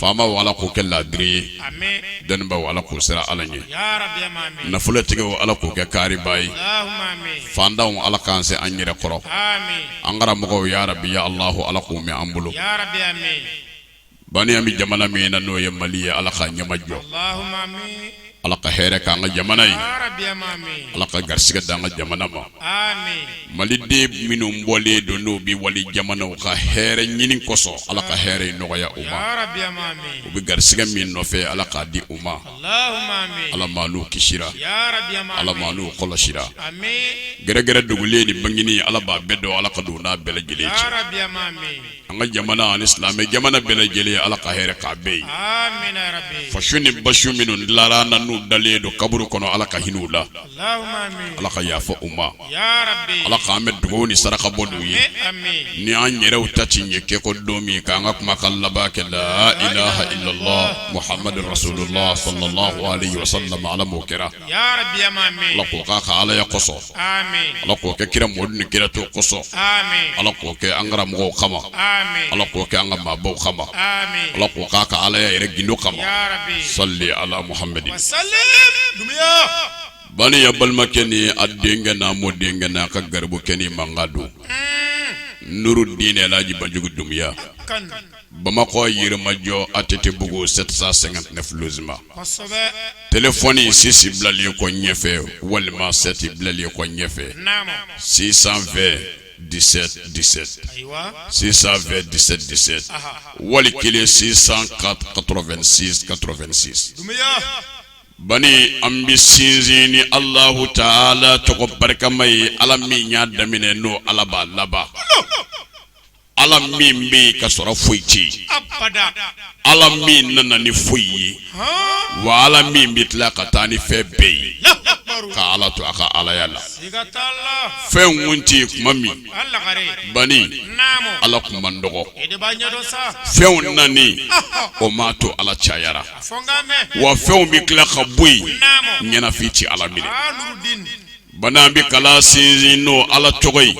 faamaw ala k'u kɛ laadiri ye dɔnnibaw ala k'u siran ala ɲɛ nafolotigiw ala k'u kɛ kariba ye fantanw ala k'an se an yɛrɛ kɔrɔ an karamɔgɔw ya rabi ya alah ala k'u mɛn an bolo bani an bɛ jamana min na n'o ye mali ye ala k'a ɲɛmajɔ ala ka hɛrɛ k'an ka jamana ye ala ka garisigɛ dan an ka jamana ma maliden minnu bɔlen don n'u bɛ wali jamana ka hɛrɛ ɲini kosɔn ala ka hɛrɛ nɔgɔya u ma u bɛ garisigɛ min nɔfɛ ala k'a di u ma ala m'anw kisira ala m'anw kɔlɔsira gɛrɛgɛrɛ dogolen ni bangenen ala b'a bɛɛ dɔn ala ka don n'a bɛɛ lajɛlen an ka jamana ani silamɛ jamana bɛɛ lajɛlen ala ka hɛrɛ k'a bɛɛ ye fasu ni basu minnu lara na n'u dalen don kaburu kɔnɔ ala ka hinɛ u la ala ka yafa u ma ala k'an mɛn dugawu ni saraka bɔ l'u ye ni an yɛrɛw ta ci ɲɛ kɛ kɔ don min k'an ka kumakan laban kɛ la ilaha illallah muhammadu rasulullah sallallahu alaihi wasallam ala m'o kɛra ala k'o k'a ka alaya kosɔn ala k'o kɛ kira mɔdu ni kira tɔw kosɔn ala k'o kɛ an karamɔgɔ kama ala k'o kɛ an ka maabaw kama ala k'o k'a ka alaya yɛrɛ gundo kama sali ala muhamadin bani a balimakɛ ni a denkɛ n'a mɔdenkɛ n'a ka garibukɛnin mankan don nurudini alaji banjugu dunbiya Bamakɔ yirimajɔ a tɛ tɛbugu sɛsa sɛgɛnfsima t fɔoni sisi bilalen kɔ ɲɛfɛ walima sɛti bilalen kɔ ɲɛfɛ sisan fɛ di disɛ sisan fɛ disɛ disɛ wali kelen sisan ka ka2sinsi ban an bɛ sinsin ni alahu taala tɔgɔ barikama ye ala min y'a daminɛ n'o ala'a laban ala min bɛ ka sɔrɔ foyi tɛ yen ala min nana ni foyi ye wa ala min bɛ tila ka taa ni fɛn bɛɛ ye ka ala to a ka alaya la fɛn kun tɛ yen kuma min bani ala kun man dɔgɔ fɛnw nani o ma to ala cayara wa fɛnw bɛ tila ka bɔ yen ɲɛnafin tɛ ala minɛ Bani an bɛ kalan sinsin n'o ala tɔgɔ ye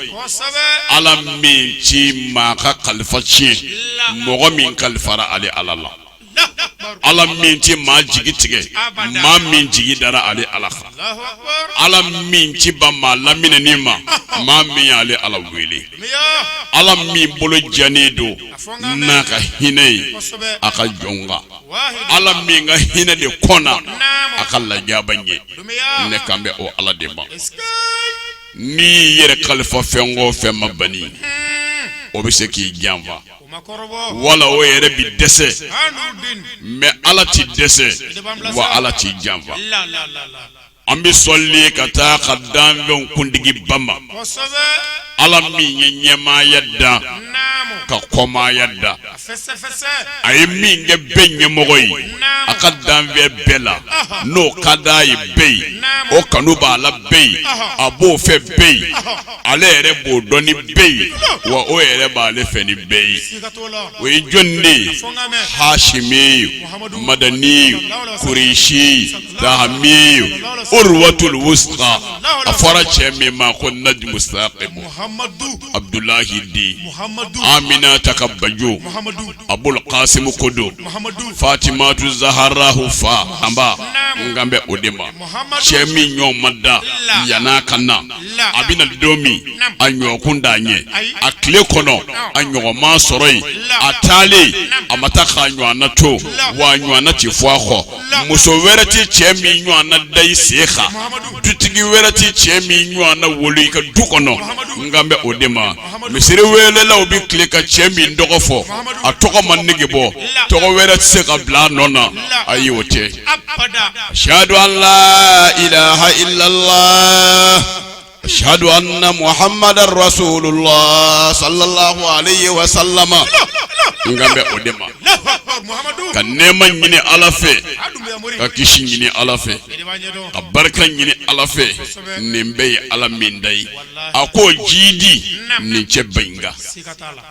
ala min tɛ maa ka kalifa tiɲɛ mɔgɔ min kalifara ale ala la ala min tɛ maa jigi tigɛ maa min jigi dara ale ala kan ala min tɛ ban maa laminɛni ma maa min y'ale ala wele ala min bolo jɛnen don n'a ka hinɛ ye a ka jɔnw kan ala min ka hinɛ de kɔnna a ka lajaba ɲɛ ne kan bɛ o ala de ma n'i y'i yɛrɛ kalifa fɛn o fɛn ma bani o bɛ se k'i janfa wala o yɛrɛ bi dɛsɛ mɛ ala tɛ dɛsɛ wa ala t'i janfa an bɛ sɔli ka taa a ka danfɛnw kuntigiba ma ala min ye ɲɛmaaya da ka kɔmaaya da a ye min kɛ bɛɛ ɲɛmɔgɔ ye a ka danfɛn bɛɛ la n'o ka d'a ye bɛɛ ye o kanu b'a la bɛɛ ye a b'o fɛ bɛɛ ye ale yɛrɛ b'o dɔn ni bɛɛ ye wa o yɛrɛ b'ale fɛ ni bɛɛ ye o ye jɔn de ye hasimiye madaniye kuresiye tahami urwatul wusqa a fɔra cɛ min ma ko najimu sakibu abudulayi den aminata ka bajo abul kasimu ko don fatimatu zahara fa anba n kan bɛ o de ma cɛ min ɲɔgɔn ma da yann'a ka na a bɛna don min a ɲɔgɔn kun t'a ɲɛ a tile kɔnɔ a ɲɔgɔn ma sɔrɔ yen a taalen a ma taa k'a ɲɔgɔnna to w'a ɲɔgɔnna tɛ fɔ a kɔ muso wɛrɛ tɛ cɛ min ɲɔgɔnna da i sen kan dutigi wɛrɛ tɛ cɛ min ɲɔgɔnna wolo i ka du kɔnɔ n kan bɛ o de ma misiri welelaw bɛ kili ka cɛ min tɔgɔ fɔ a tɔgɔ ma nege bɔ tɔgɔ wɛrɛ tɛ se ka bila a nɔ na ayi o tɛ ashhadu an la ilaha illallah ashhadu anna muhammadan rasulullah sallallahu alayhi wa sallama n kan bɛ o de ma ka nɛɛma ɲini ala fɛ ka kisi ɲini ala fɛ ka barika ɲini ala fɛ nin bɛɛ ye ala min da ye a k'o jiidi nin cɛba in kan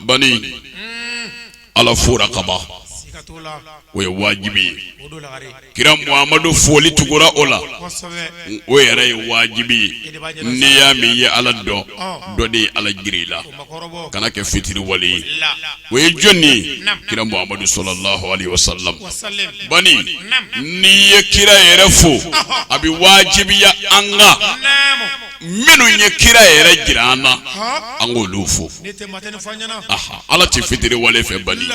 bani ala fora kaban o ye wajibi ye kira muhamadu foli tugura o la o yɛrɛ ye wajibi ye n'i y'a mɛn i ye ala dɔn dɔ de ye ala jira i la kana kɛ fitiriwale ye o ye jɔn ye kira muhamadu sallallahu alayhi wa sallam bani n'i ye kira yɛrɛ fo a bɛ wajibiya an kan minnu ye kira yɛrɛ jira an na an k'olu fo ala tɛ fitiriwale fɛ bali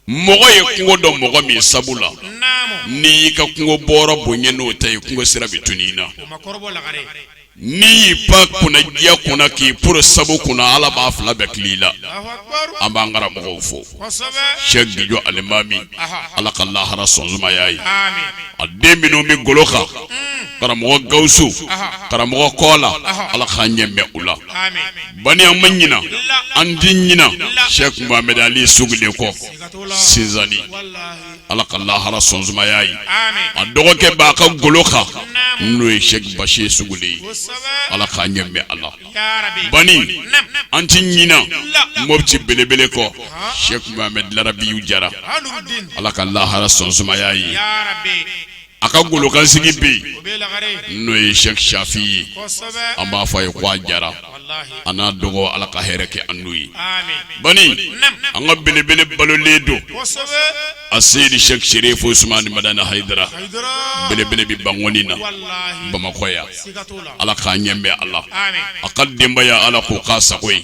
mɔgɔ ye kungo dɔn mɔgɔ min sabu la n'i y'i ka kungo bɔrɔ bonya n'o ta ye kungo sira bɛ tunun i na n'i y'i pan kunnandiya kunna k'i poro sabu kunna ala b'a fila bɛɛ tila i la an b'an karamɔgɔw fo jijɔ alimami ala ka lahara so sumaya a ye a den minnu bɛ golo kan karamɔgɔ gawusu karamɔgɔ kola ala k'a ɲɛ mɛn u la bani an ma ɲinan an ti ɲinan sɛki muhamɛdi ali sugule kɔ sinsani ala ka lahara so sumaya a ye a dɔgɔkɛ b'a ka golo kan n'o ye sɛki basiru sugule ye ala k'a ɲɛ mɛn a la bani an ti ɲinan mɔpti belebele kɔ sɛki muhamɛdi larabiyu jara ala ka lahara so sumaya a ye a ka golokansigi bɛ yen n'o ye sɛki safi ye an b'a fɔ a ye ko a jara an n'a dɔgɔ ala ka hɛrɛ kɛ an n'o ye bani an ka belebele balolen don asɛyidi sɛki serifu usumani madani hayidara belebele bɛ bankɔni na bamakɔ yan ala k'a ɲɛ mɛn a la a ka denbaya ala k'o k'a sago ye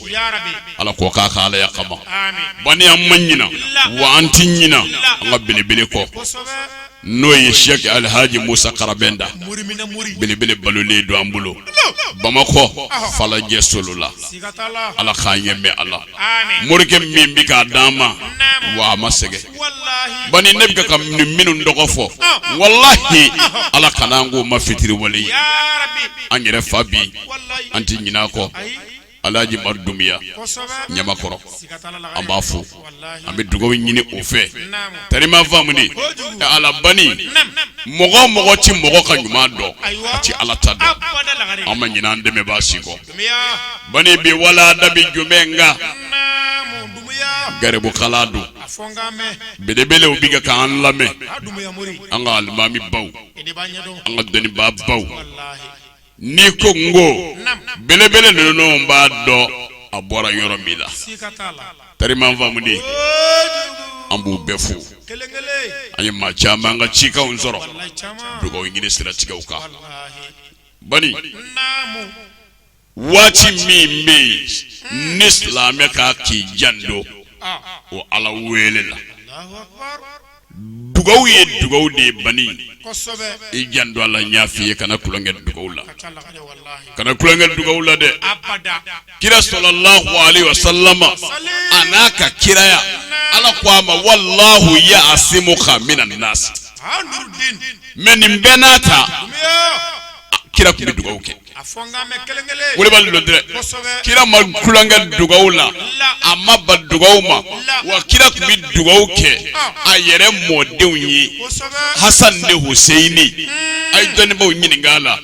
ala k'o k'a ka alaya kama bani an ma ɲinan wa an tɛ ɲinan an ka belebele kɔ n'o ye sɛki alihaji musa karabɛnta belebele balolen don an bolo bamakɔ falajɛ solola ala k'a ɲɛ mɛn a la morikɛ min bɛ k'a d'an ma wa a ma sɛgɛn bani ne bɛ ka minnu tɔgɔ fɔ walayi ala kana an k'u ma fitiriwale ye an yɛrɛ fa bi an tɛ ɲinan kɔ alaji umaru dunbiya ɲamakɔrɔ an b'a fɔ an bɛ dugawu ɲini o fɛ tariman faamu ni ala bani mɔgɔ mɔgɔ tɛ mɔgɔ ka ɲuman dɔn a tɛ ala ta dɔn an ma ɲinan dɛmɛbaa si kɔ bani bi wala dabi jumɛn nka garibu kalan don belebelew bi ka k'an lamɛn an ka alimami baw an ka dɔnnibaa baw n'i ko n ko belebele ninnu b'a dɔn a bɔra yɔrɔ min la tariman faamuden an b'u bɛɛ fo an ye maa caman ka cikanw sɔrɔ dugawu ɲini siratigɛw kan bani waati min bɛ yen hmm. ne silamɛ ka k'i janto ah. o ala wele la dugaw ye dugaw de ye bani i janto a la n y'a f'i ye kana tulonkɛ dugaw la kana tulonkɛ dugaw la dɛ kira sallallahu alaihi wa sallama a n'a ka kiraya ala ko a ma wallahu yaasimuka mina nasi mɛ nin bɛɛ n'a ta kira tun bɛ dugawu kɛ wulibali lɔ dɛ kira ma tulonkɛ dugawu la a ma ban dugawu ma wa kira tun bɛ dugawu kɛ a yɛrɛ mɔdenw ye hasan ni huseyini a ye dɔnnibaaw ɲininka a la.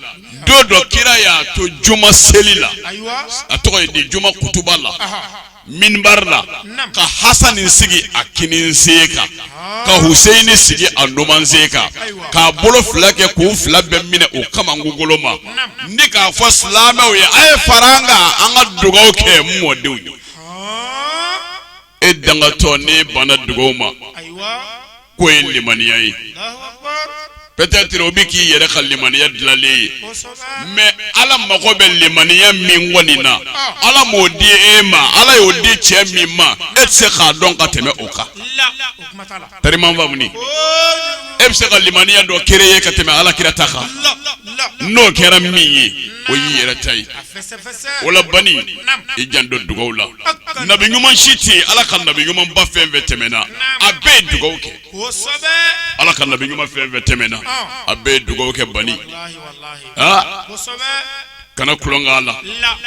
don dɔ kira y'a to juma seli la a tɔgɔ ye di juma kutuba la minibari la ka hasani sigi a kinin sen kan ka huseyini sigi a numan sen kan k'a bolo fila kɛ k'u fila bɛɛ minɛ u kaman kungolo ma ni k'a fɔ silamɛw ye a ye fara an kan an ka dugaw kɛ n mɔdenw ye e dangatɔnin banna dugaw ma k'o ye limaniya ye peut-être o bɛ k'i yɛrɛ ka limaniya dilanlen ye mais ala mago bɛ limaniya min kɔni na ala m'o di e ma ala y'o di cɛ min ma e tɛ se k'a dɔn ka tɛmɛ o kan tari i ma n faamu ni e tɛ se ka limaniya dɔ créer ka tɛmɛ ala kira ta kan n'o kɛra min ye o y'i yɛrɛ ta ye wala bani i janto dugaw la nabi ɲuman si tɛ yen ala ka nabi ɲumanba fɛn fɛn tɛmɛna a bɛɛ ye dugaw kɛ ala ka nabi ɲuman fɛn fɛn tɛmɛna a bɛɛ ye dugaw kɛ bani aa kana kolon k'a la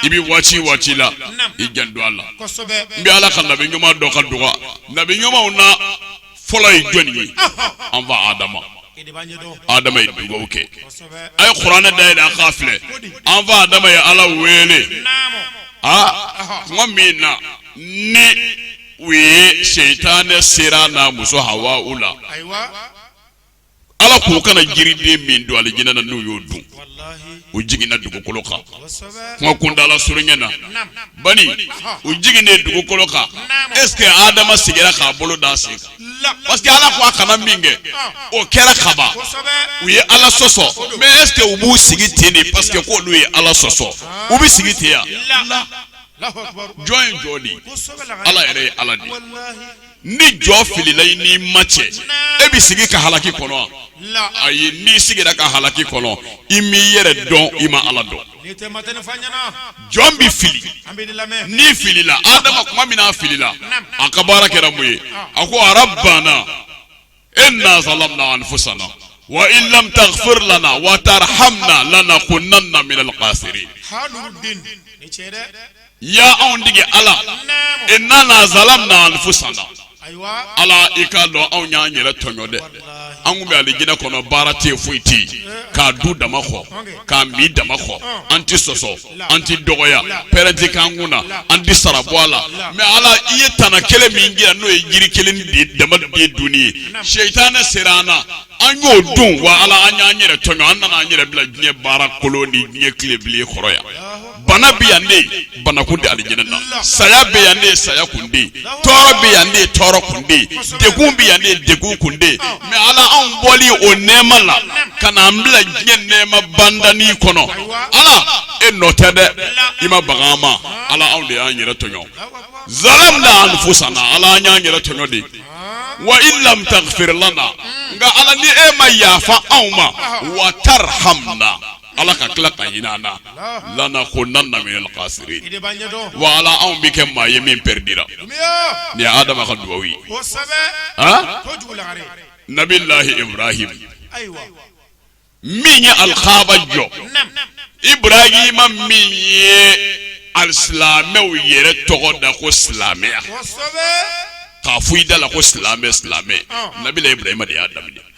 i bɛ waati waati la i janto a la n bɛ ala ka nabi ɲuman dɔ ka dugaw nabi ɲumanw na fɔlɔ ye jɔnni ye an fa adama adama ye dugawu kɛ a ye kuranɛ dayɛlɛ a k'a filɛ an fa adama ye ala wele aa kuma min na ni o ye setanɛ sera a n'a muso hawa u la ala k'u kana jiriden min dun alijinɛ na n'u y'o dun u jiginna dugukolo kan kuma kuntala surunya na bani u jiginnen dugukolo kan est-ce que adama sigira k'a bolo d'a sen kan parce que ala ko a kana min kɛ o kɛra kaban u ye ala sɔsɔ mais est-ce que u b'u sigi ten ni parce que k'olu ye ala sɔsɔ u bɛ sigi ten yan jɔn ye jɔn de ye ala yɛrɛ ye ala de ye. ni jɔn filila i n'i ma cɛ e bɛ sigi ka halaki kɔnɔ ayi n'i sigira ka halaki kɔnɔ i m'i yɛrɛ dɔn i ma ala dɔn jɔn bɛ fili n'i filila adama kuma min na a filila a ka baara kɛra mun ye a ko rabbana inna zalamna anfusana wa in lam taghfir lana wa tarhamna lanakunanna min alkhasirin ya anw tigi ala innana zalamna anfusana ala i k'a dɔn anw y'an yɛrɛ tɔɲɔ dɛ an kun bɛ alijinɛ kɔnɔ baara tɛ foyi tɛ yen k'a dun dama kɔ k'a min dama kɔ an tɛ sɔsɔ an tɛ dɔgɔya pɛrɛn tɛ k'an kun na an tɛ sara bɔ a la mais ala i ye tana kelen min jira n'o ye jiri kelen de dama de dunni ye setanɛ sera an na an y'o dun wa ala an y'an yɛrɛ tɔɲɔ an nana an yɛrɛ bila diɲɛ baara kolon ni diɲɛ tile bilen kɔrɔ yan bana bɛ yan de bana kun tɛ alijɛnɛ na saya bɛ yan de saya kun tɛ tɔɔrɔ bɛ yan de tɔɔrɔ kun de degun bɛ yan de degun kun de mɛ ala anw bɔli o nɛɛma la ka na an bila diɲɛ nɛɛma bandani kɔnɔ ala e nɔ tɛ dɛ i ma baga an ma ala anw de y'an yɛrɛ tɔɲɔ zalamna anfusana ala an y'an yɛrɛ tɔɲɔ de wa in lam tagfir lana nka ala ni e ma yafa anw ma wa tarhamna Ala ka tila ka hinɛ an na lanakunanna minal khasirin wa ala anw bɛ kɛ maa ye min perdira nin ye adama ka dugawu ye nabilahi ibrahima min ye alikaba jɔ ibrahima min ye ali silamɛw yɛrɛ tɔgɔ da ko silamɛya k'a fɔ i da la ko silamɛ silamɛ nabilahi ibrahima de y'a daminɛ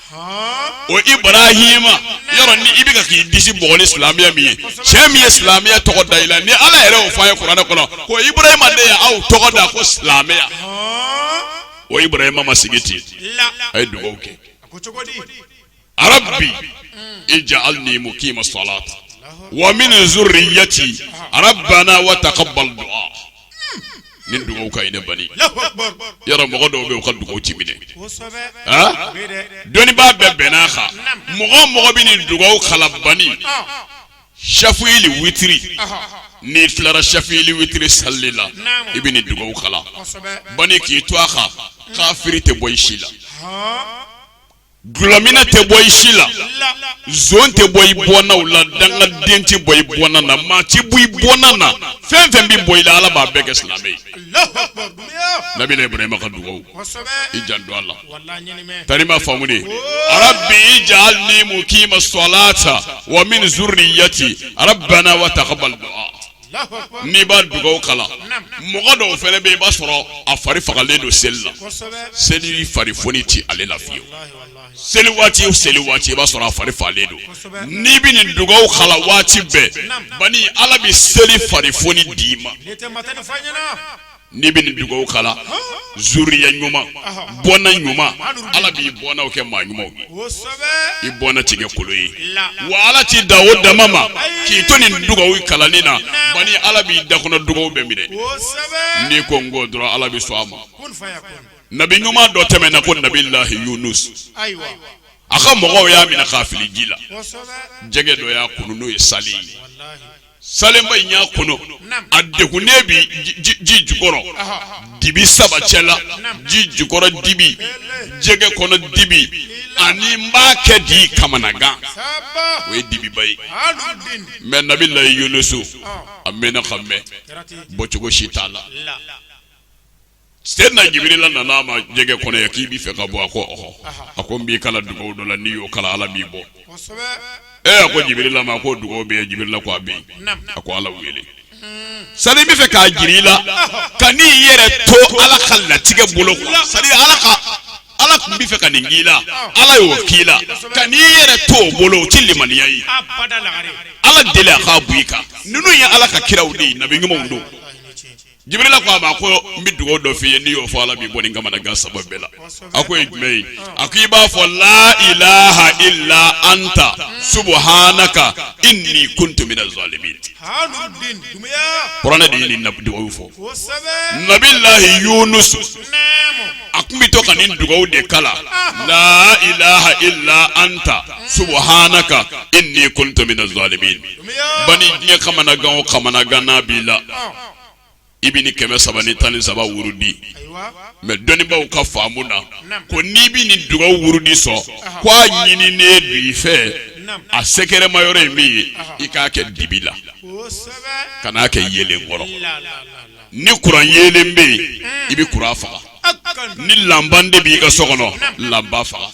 o ibrahima yɔrɔ ni i bɛ ka k'i disi bugɔ ni silamɛya min ye cɛ min ye silamɛya tɔgɔ da i la ni ala yɛrɛ y'o fɔ an ye kuranɛ kɔnɔ ko ibrahima de ye aw tɔgɔ da ko silamɛya o ibrahima ma sigi ten a ye dugawu kɛ rabbi ij'alni muqima salat wa min zuriyati rabbana wa taqabbal du'a nin dugawu ka ɲi bani yɔrɔ mɔgɔ dɔw bɛ u ka dugawu ti minɛ dɔnnibaa bɛɛ bɛnn'a kan mɔgɔ mɔgɔ bɛ nin dugawu kala bani shɛfili witiri n'i tilara shɛfili witiri sali la i bɛ nin dugawu kala bani k'i to a kan kafiri tɛ bɔ i si la Dulɔminna tɛ bɔ i si la zon tɛ bɔ i bɔnnaw la dangaden tɛ bɔ i bɔnna na maa tɛ bɔ i bɔnna na fɛn fɛn bɛ bɔ i la ala b'a bɛɛ kɛ silamɛ ye nabila ibrahima ka dugawu i janto a la tari ma faamu de rabbi ij'alni muqima salata wa min zurriyati rabbana wa taqabbal du'a n'i b'a dugawu kalan mɔgɔ dɔw fana bɛ i b'a sɔrɔ a fari fagalen don seli la seli fari foni tɛ ale la fiyewu seli waati o seli waati i b'a sɔrɔ a fari fagalen don n'i bɛ nin dugawu kalan waati bɛɛ bani Ala bɛ seli fari foni d'i ma. N'i bɛ nin dugawu kala zuriya ɲuman bɔnna ɲuman ala b'i bɔnnaw kɛ maa ɲumanw ye i bɔnna ti kɛ kolo ye wa ala t'i da o dama ma k'i to nin dugawu kalani na bani ala b'i da kɔnɔ dugawu bɛɛ minɛ n'i ko n ko dɔrɔn ala bɛ sɔn a ma nabi ɲuman dɔ tɛmɛna ko nabilahi yunus a ka mɔgɔw y'a minɛ k'a fili ji la jɛgɛ dɔ y'a kunu n'o ye salen ye salenba in y'a kunu a degunnen bɛ ji jukɔrɔ dibi saba cɛ la ji jukɔrɔ dibi jɛgɛ kɔnɔ dibi ani n b'a kɛ di kamanagan o ye dibiba ye mɛ nabilahi yunusu a mɛnna ka mɛn bɔcogo si t'a la Sɛdina jibirila nana a ma jɛgɛ kɔnɔ yan k'i b'i fɛ ka bɔ a ko ɔhɔ a ko n b'i kala dugawu dɔ la n'i y'o kala ala b'i bɔ ɛ a ko jibirila ma ko dugawu bɛ yen jibirila ko a bɛ yen a ko ala wele sa n bɛ fɛ k'a jira i la ka n'i yɛrɛ to ala ka latigɛ bolo sa ala tun bɛ fɛ ka nin k'i la ala y'o k'i la ka n'i yɛrɛ to o bolo o tɛ limaniya ye ala deli a k'a bɔ i kan ninnu ye ala ka kiraw de ye nabi ɲumanw don Jibirila ko a ma ko n bɛ dugawu dɔ f'i ye n'i y'o fɔ Ala b'i bɔ nin kamanagan saba bɛɛ la a k'o ye jumɛn ye a ko i b'a fɔ la ilaha illa anta subuhanaka inni kuntu mina zalimin kuranɛ de ye nin dugawu fɔ nabilahi yunusu a tun bɛ to ka nin dugawu de kala la ilaha illa anta subuhanaka inni kuntu mina zalimin bani diɲɛ kamanagan o kamanagan n'a b'i la i bɛ ni kɛmɛ saba ni tan ni saba wurudi mɛ dɔnnibaw ka faamu na ko n'i bɛ nin dugawu wurudi sɔn ko a ɲininen don i fɛ a sɛgɛrɛma yɔrɔ in min ye i k'a kɛ dibi la kan'a kɛ yelen kɔrɔ ni kuran yelen bɛ yen i bɛ kuran faga ni lanpan de b'i ka so kɔnɔ lanpan faga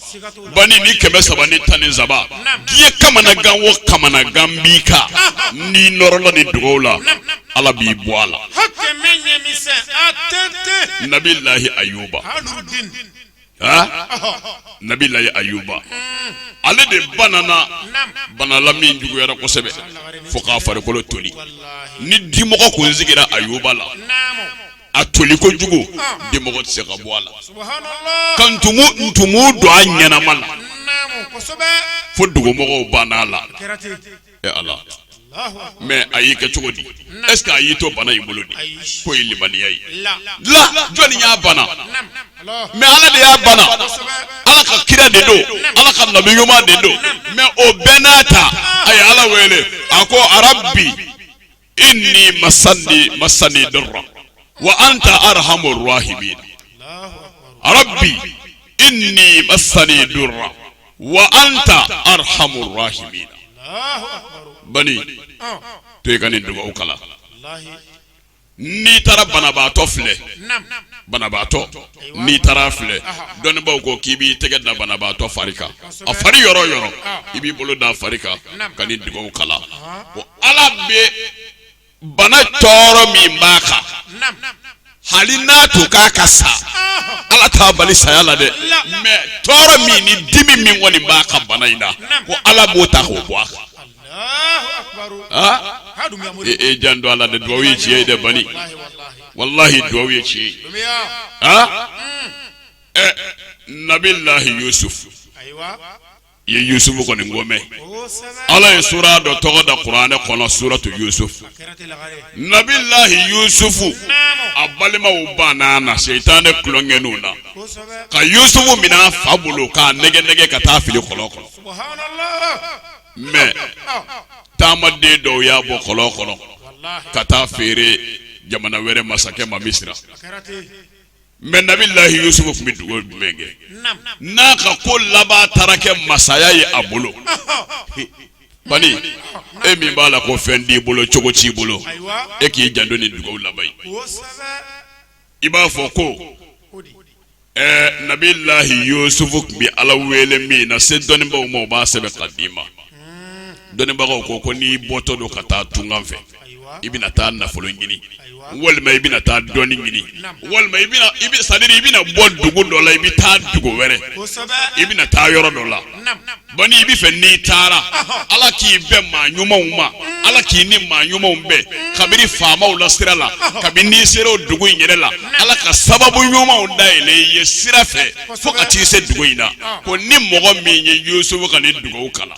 bani ni kɛmɛ saba ni tan ni saba diɲɛ kamanagan o kamanagan b'i kan n'i nɔrɔla nin dugawu la ala b'i bɔ a la nabilahi ayuba nabilahi ayuba hmm. ale de banana bana la min juguyara kosɛbɛ fo k'a farikolo toli ni dimɔgɔ kun sigira ayuba la a toli kojugu dimɔgɔ tɛ se ka bɔ a la ka ntumu don a ɲɛnama la fo dugumɔgɔ banna a la ala mɛ a y'i kɛ cogo di ɛsikɛ a y'i to bana in bolo di k'o ye limaniya ye la jɔnni y'a bana mɛ ala de y'a bana ala ka kira de don ala ka nabi ɲuman de don mɛ o bɛɛ n'a ta a ye ala wele a ko a rabbi inni masani masani duru wa anta arahamu rahimin rabbi inni masani duru wa anta arahamu rahimin bani to i ka nin dugawu kala n'i taara banabaatɔ filɛ banabaatɔ n'i taara filɛ dɔnnibaaw ko k'i b'i tɛgɛ da banabaatɔ fari kan a fari yɔrɔ yɔrɔ i b'i bolo da a fari kan ka nin dugawu kala ala bɛ bana tɔɔrɔ min b'a kan hali n'a tun ka kan ka sa ala t'a bali saya la dɛ mɛ tɔɔrɔ min ni dimi min kɔni b'a kan bana in na ko ala b'o ta k'o bɔ a kan e, e janto a la dɛ dugawu ye tiɲɛ ye dɛ bani walahi dugawu ye tiɲɛ ye mm. eh, nabilahi yusuf i ye yusufu kɔni komi ala ye sura dɔ tɔgɔ da kuranɛ kɔnɔ suratu yusufu nabilahi yusufu a balimaw banna na seitanɛ tulonkɛninw na ka yusufu minɛ a fa bolo k'a nɛgɛn nɛgɛn ka taa fili kɔlɔn kɔnɔ mɛ taamaden dɔw y'a bɔ kɔlɔn kɔnɔ ka taa feere jamana wɛrɛ masakɛ ma misira mɛ nabilahi yusufu tun bɛ dugawu jumɛn kɛ n'a ka ko laban taara kɛ masaya ye a bolo bani e min b'a la ko fɛn t'i bolo cogo t'i bolo e k'i janto nin dugawu la bani i b'a fɔ ko nabilahi yusufu tun bɛ ala wele min na se dɔnnibaw ma o b'a sɛbɛn ka d'i ma dɔnnibagaw ko ko n'i bɔtɔ don ka taa tunga fɛ i bɛna taa nafolo ɲini walima i bɛna taa dɔnni ɲini walima sadiri i bɛna bɔ dugu dɔ la i bɛ taa dugu wɛrɛ i bɛna taa yɔrɔ dɔ la bani i b'a fɛ n'i taara ala k'i bɛn maa ɲumanw ma ala k'i ni maa ɲumanw bɛn kabini faamaw la sira la kabini n'i sera o dugu in yɛrɛ la ala ka sababu ɲumanw dayɛlɛ i ye sira fɛ fo ka t'i se dugu in na ko ni mɔgɔ min ye yusufu ka nin dugawu kalan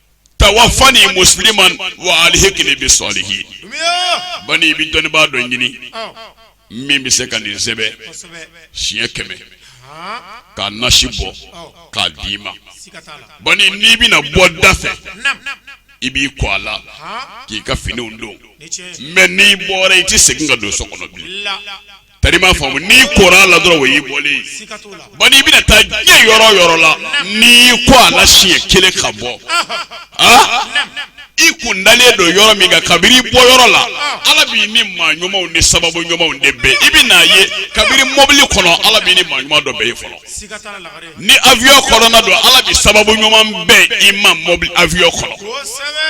tawafani musliman wa alihikini bi salihin bani i bɛ dɔnnibaa dɔ ɲini min bɛ se ka nin sɛbɛn siɲɛ kɛmɛ k'a nasi bɔ k'a d'i ma bani n'i bɛna bɔ da fɛ i b'i ko a la k'i ka finiw don mɛ n'i bɔra i tɛ segin ka don so kɔnɔ bilen tari m'a faamu n'i kora a la dɔrɔn o y'i bɔlen ye bani i bɛna taa diɲɛ yɔrɔ o yɔrɔ la n'i y'i ko a la siɲɛ kelen ka bɔ i kun dalen don yɔrɔ min kan kabiri i bɔ yɔrɔ la ala b'i ni maa ɲumanw ni sababu ɲumanw de bɛn i bɛn'a ye kabiri mɔbili kɔnɔ ala b'i ni maa ɲuman dɔ bɛn yen fɔlɔ ni avion kɔnɔna don ala bɛ sababu ɲuman bɛn i ma mɔbili avion kɔnɔ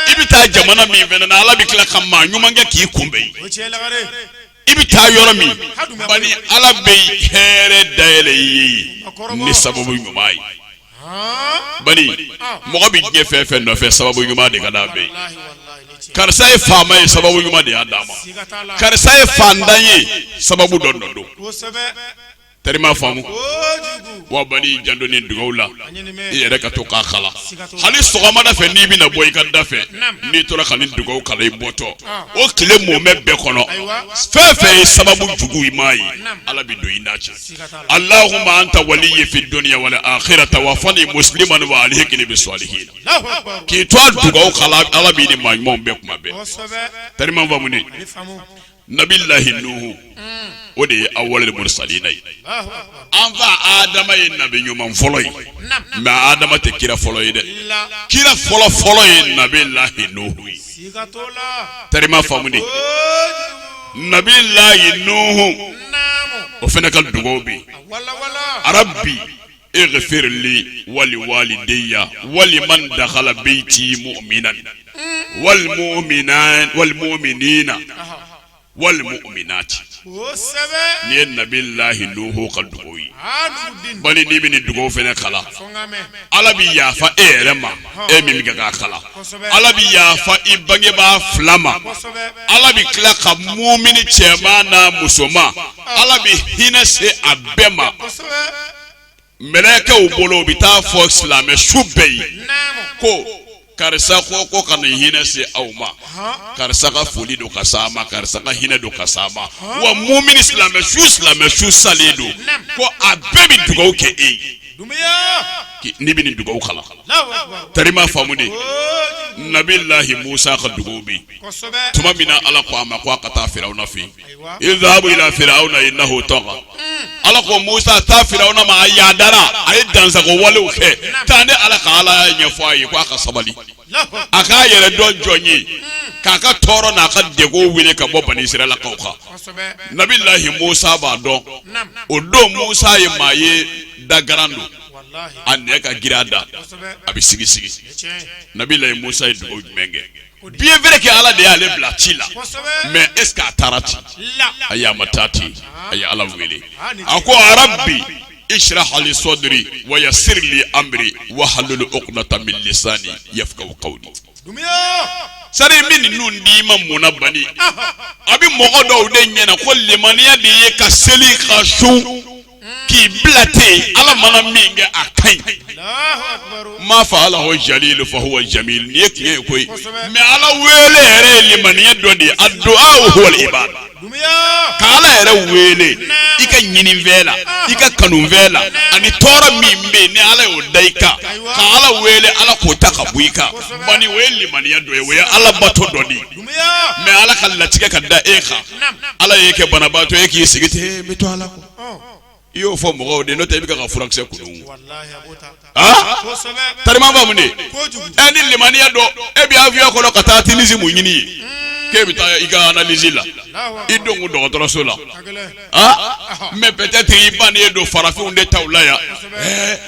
i bɛ taa jamana min fana na ala bɛ tila ka maa ɲuman kɛ k'i kunbɛn i bɛ taa yɔrɔ min bani ala bɛ hɛrɛ dayɛlɛ i ye ni sababu ɲuman ye bani mɔgɔ bɛ diɲɛ fɛn fɛn nɔfɛ sababu ɲuman de ka d'a bɛɛ ye karisa ye faama ye sababu ɲuman de y'a d'a ma karisa ye faantan ye sababu dɔ nɔ don tari m'a faamu wa bani i janto nin dugawu la i yɛrɛ ka to k'a kalan hali sɔgɔmada fɛ n'i bɛna bɔ i ka da fɛ n'i tora ka nin dugawu kalan i bɔtɔ o tile mumɛ bɛɛ kɔnɔ fɛn fɛn ye sababu jugu i m'a ye ala bɛ don i n'a cɛ alahuma anta waliyi fi dunya wal akhira tawafani musliman wa alhikini bi salihina k'i to a dugawu kalan ala b'i ni maa ɲumanw bɛn kuma bɛɛ tari m'a faamu ne nabi lahi nuhu o de ye awalul mursalina ye an fa adama ye nabi ɲuman fɔlɔ ye mais adama tɛ kira fɔlɔ ye dɛ kira fɔlɔ fɔlɔ ye nabi lahi nuhu ye tari m'a faamu de nabi lahi nuhu o fana ka dugawu bɛ a rabi ighfir li wali walidaya wali man dakala beyiti muminan wal muminina wal muminati nin ye nabi lahi nuhu ka dugawu ye bani n'i bɛ nin dugawu fana kalan ala bɛ yafa e yɛrɛ ma e min bɛ k'a kalan ala bɛ yafa i bangebaa fila ma ala bɛ tila ka mumini cɛman n'a musoman ala bɛ hinɛ se a bɛɛ ma mɛlɛkɛw bolo bɛ taa fɔ silamɛ su bɛɛ ye ko karisa ko ka nin hinɛ se aw ma karisa ka foli don ka s'a ma karisa ka hinɛ don ka s'a ma wa mumini silamɛ su silamɛ su salen don ko a bɛɛ bɛ dugawu kɛ e ye n'i bɛ nin dugawu kalan tari m'a faamu de nabi lahi musa ka dugawu bɛ tuma min na ala ko a ma ko a ka taa firawuna fɛ izhabu ila firawuna inahu taga ala ko musa taa firawuna ma a yadara a ye dansagon walew kɛ taa ne ala ka alaya ɲɛfɔ a ye ko a ka sabali a k'a yɛrɛ dɔn jɔn ye k'a ka tɔɔrɔ n'a ka degun wili ka bɔ bani israɛlakaw kan nabi lahi musa b'a dɔn o don musa ye maa ye dagaran don a nɛn ka girin a da a bɛ sigi sigi nabi lahi musa ye dugawu jumɛn kɛ bien vrai que ala de y'ale bila ci la mais est-ce qu'a taara ten ayi a ma taa ten a ye ala wele a ko a rabi israh li sadri wa yasir li amri wahalul ukdata min lisani yafkahu kawli sari min ninnu d'i ma munna bani a bɛ mɔgɔ dɔw de ɲɛna ko limaniya de ye ka seli ka sun k'i bila ten ala mana min kɛ a ka ɲi ma faalahu jalil fahuwa jamil nin ye tiɲɛ ye koyi mais ala wele yɛrɛ ye limaniya dɔ de ye aduwa huwal ibada ka ala yɛrɛ wele i ka ɲininfɛn la i ka kanufɛn la ani tɔɔrɔ min bɛ yen ni ala y'o da i kan ka ala wele ala k'o ta ka bɔ i kan bani o ye limaniya dɔ ye o ye ala bato dɔ de ye mais ala ka latigɛ ka da e kan ala y'e kɛ banabaatɔ ye k'i sigi ten n bɛ to ala i y'o fɔ mɔgɔw de n'o tɛ i bɛ ka furakisɛ kunun tari ma faamu de ɛ ni limaniya don e bɛ avion kɔnɔ ka taa Tunisie mun ɲini ye k'e bɛ taa i ka analyse la i don ko dɔgɔtɔrɔso la mais peut-être i ban ye don farafinw de ta la yan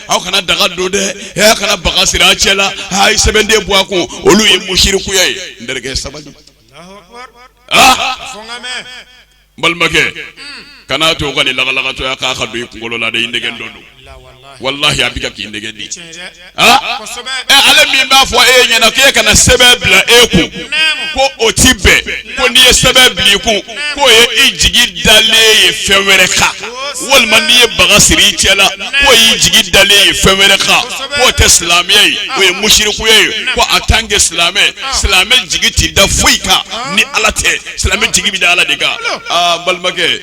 aw kana daga don dɛ e kana baga siri a cɛ la a ye sɛbɛnden bɔ a kun olu ye musirikuya ye n terikɛ sabali balimakɛ kana to ka nin lagalagatɔya kan ka don i kunkolo la dɛ i nɛgɛntɔ don walahi a bɛ k'i nɛgɛn de ale min b'a fɔ e ɲɛna k' e kana sɛbɛn bila e kun ko o tɛ bɛn ko n'i ye sɛbɛn bila i kun k'o ye i jigi dalen ye fɛn wɛrɛ kan walima n'i ye baga siri i cɛ la k'o y'i jigi dalen ye fɛn wɛrɛ kan k'o tɛ silamɛya ye o ye musirikuya ye ko en tant que silamɛ silamɛ jigi t'i da foyi kan ni ala tɛ silamɛ jigi bɛ da ala de kan aa n balimakɛ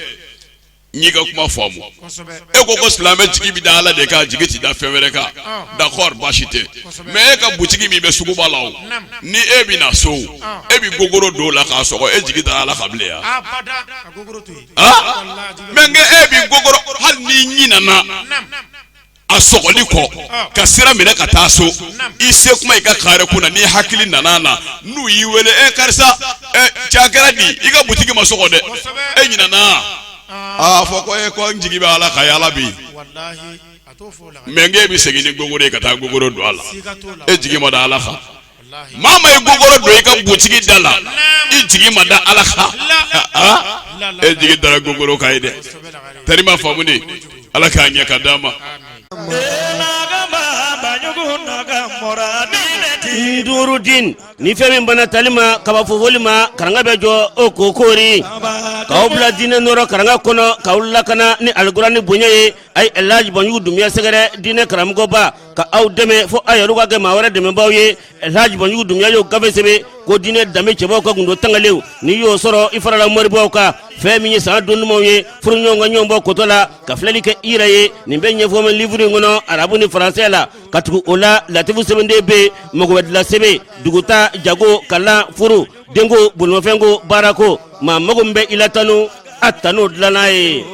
n y'i ka kuma faamu kosɛbɛ e ko ko silamɛ jigi bɛ da ala de kan jigi tɛ da fɛn wɛrɛ kan d'accord baasi tɛ mais e ka butigi min bɛ suguba la o ni e bɛ na so e bɛ gogoro don o la k'a sɔgɔ e jigi da ala kan bilen yan abada ka gogoro to yen ah mais nka e bɛ gogoro hali n'i ɲinana a sɔgɔli kɔ ka sira minɛ ka taa so i se kuma i ka kare kun na n'i hakili nana na n'u y'i wele e eh, karisa e eh, cɛ a kɛra di i ka butigi ma sɔgɔ dɛ e ɲinana ah. a fɔ ko e eh, ko n jigi bɛ ala kan yala bi mais nk'e bɛ segin ni gogoro ye ka taa gogoro don a la e jigi ma da ala kan maa ma ye gogoro don i ka butigi da la i jigi ma da ala kan e jigi dara gogoro kan ye dɛ tari ma faamu de ala k'a ɲɛ ka d'an ma. Nurudin ni fɛn min banna tali ma ka ban fofoli ma karanga bɛ jɔ o ko koori k'aw bila diinɛ nɔɔrɔ karanga kɔnɔ k'aw lakana ni alikurani bonya ye a ye alhaji banjugu dunbiya sɛgɛrɛ diinɛ karamɔgɔba ka aw dɛmɛ fo aw yɛrɛ ka kɛ maa wɛrɛ dɛmɛbaaw ye laji banjugu dunbiya y'o gafe sɛbɛn ko diinɛ danbe cɛbaw ka gundo tangalenw n'i y'o sɔrɔ i farala moribaw kan fɛn min ye san don dumanw ye furu ɲɔgɔn ka ɲɔgɔnbɔ kotɔ la ka filɛli kɛ i yɛrɛ ye nin bɛɛ ɲɛfɔ bɛ livre in kɔnɔ arabu ni faransɛ la ka tugu o la latifu sɛbɛnden bɛ yen mago bɛɛ dila sɛbɛn duguta jago kalan furu denko bolomafɛnko baarako maa mago min bɛ i la tanu a tanu dilanna ye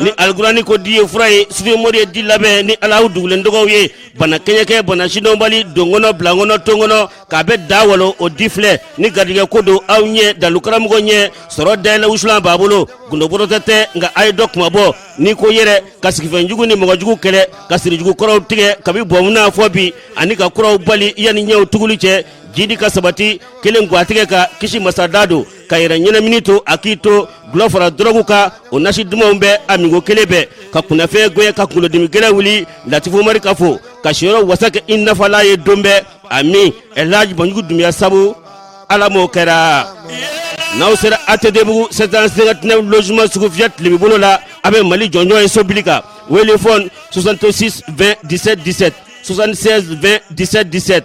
ni alikurani ko di ye fura ye sufi mori ye di labɛn ni alahu dugulen tɔgɔw ye bana kɛɲɛkɛ bana sidɔnbali donkɔnɔ bilakɔnɔ tonkɔnɔ k'a bɛɛ da walo o di filɛ ni garijɛgɛ ko don aw ye dalukaramɔgɔ ɲɛ sɔrɔ dayɛlɛ wusulan b'a bolo gundobɔrɔtɛ tɛ nka a ye dɔ kuma bɔ ni ko yɛrɛ ka sigifɛn jugu ni mɔgɔ jugu kɛlɛ ka sirijugu kɔrɔw tigɛ kabi bɔnmuna fo bi ani ka kuraw bali yanni ɲɛw tuguli cɛ jidi ka sabati kelen gwatigɛ ka kisi masada don ka yɛrɛ ɲɛnamini to a k'i to gulɔ fara dɔrɔgu kan o nasi dumanw bɛ a min ko kelen bɛɛ ka kunnafɛn gwɛn ka kunkolodimi gɛlɛn wuli latifu mari ka fo ka siyɔrɔ wasa kɛ i nafala ye don bɛɛ a min ɛlaji banjugu dunbiya sabu ala m'o kɛra n'aw sera atetebugu 759 logement sugu fiyɛ tilebin bolo la a bɛ mali jɔnjɔn ye so bili kan wele fɔn 66 20 17 17 76 20 17 17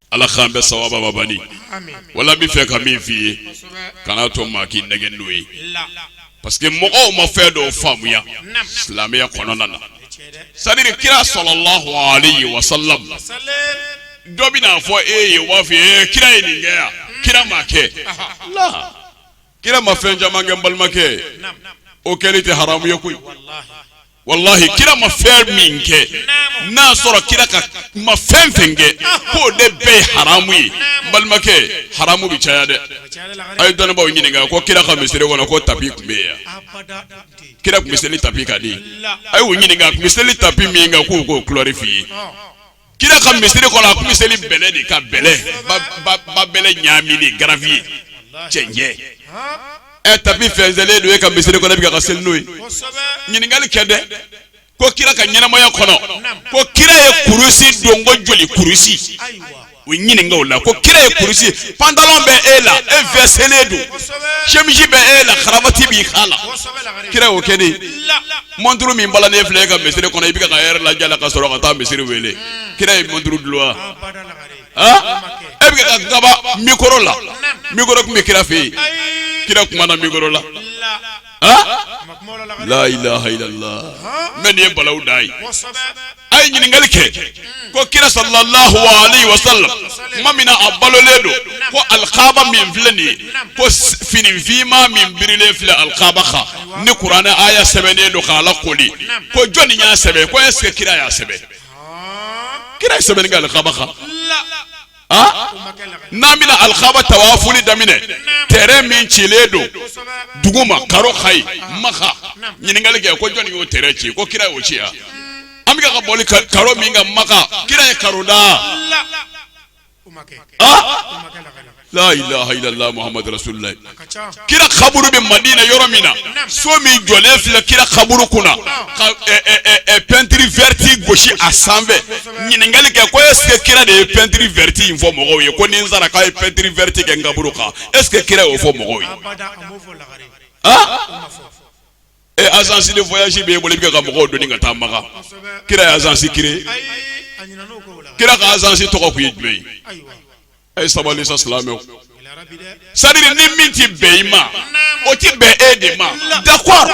ala k'an bɛɛ sawaba babali wala bɛ fɛ ka min f'i ye kana to maa k'i nɛgɛn n'o ye parce que mɔgɔw ma fɛn dɔw faamuya silamɛya kɔnɔna na c'est-à-dire kira sallallahu alaihi wa sallam dɔ bɛn'a fɔ e ye wafi ye kira ye nin kɛ yan kira m'a kɛ kira ma fɛn caman kɛ n balimakɛ o kɛli tɛ haramu ye koyi walahi kira ma fɛn min kɛ n'a sɔrɔ kira ka ma fɛn fɛn kɛ k'o de bɛɛ ye haramu ye n balimakɛ haramu bɛ caya dɛ a ye dɔnnibaaw ɲininka ko kira ka misiri kɔnɔ ko tapi tun bɛ yen kira tun bɛ seli tapi kan de a y'u ɲininka a tun bɛ seli tapi min kan k'u k'o kulɔri f'i ye kira ka misiri kɔnɔ a kun bɛ seli bɛlɛ de kan bɛlɛ ba ba ba bɛlɛ ɲaaminen gravier cɛncɛn ɛ tapi fɛnsɛnlen don e ka misiri kɔnɔ e bɛ ka ka seli n'o ye ɲininkali kɛ dɛ ko kira ka ɲɛnamaya kɔnɔ ko kira ye kurusi don ko joli kurusi u ɲininka o la ko kira ye kurusi pantalon bɛ e la e vɛselen don semisi bɛ e la karavati b'i kan la kira y'o kɛ de. mɔnturu min balannen filɛ e ka misiri kɔnɔ i bɛ ka ka lɛrɛ lajɛ a la ka sɔrɔ ka taa misiri wele kira ye mɔnturu dulon wa e bɛ ka gaba mikoro la mikoro tun bɛ kira fɛ yen kira kumana mikoro la la ilaha illallah mɛ nin ye balawu de ye a ye ɲininkali kɛ ko kira sallallahu alaihi wa sallam tuma min na a balolen don ko alikaaba min filɛ nin ye ko fini finma min birilen filɛ alikaaba kan ni kuranɛ aya sɛbɛnnen don k'a lakooli ko jɔnni y'a sɛbɛn ko est-ce que kira y'a sɛbɛn kira ye sɛbɛnni kɛ alikaaba kan n'an bɛna alikaba tawafuli daminɛ tɛrɛn min cilen don dugu ma karo kan yen maka ɲininkali kɛ ko jɔnni y'o tɛrɛn ci ko kira y'o ci ya an bɛ ka boli karo min kan maka kira ye karo da la ilaha illallah muhammadu rasulullah kira kaburu bɛ madina yɔrɔ min na so min jɔlen filɛ kira kaburu kunna ka pɛntiri vɛrɛti gosi a sanfɛ ɲininkali kɛ ko est-ce que kira de ye pɛntiri vɛrɛti in fɔ mɔgɔw ye ko ni n sara k'a ye pɛntiri vɛrɛti kɛ n kaburu kan est-ce que kira y'o fɔ mɔgɔw ye ee agence de voyage b'e bolo i bɛ ka mɔgɔw doni ka taa maka kira ye agence créé kira ka agence tɔgɔ kun ye jumɛn ye a ye sabali sa silamɛw c'est-à-dire ni min ti bɛn i ma o ti bɛn e de ma d'accord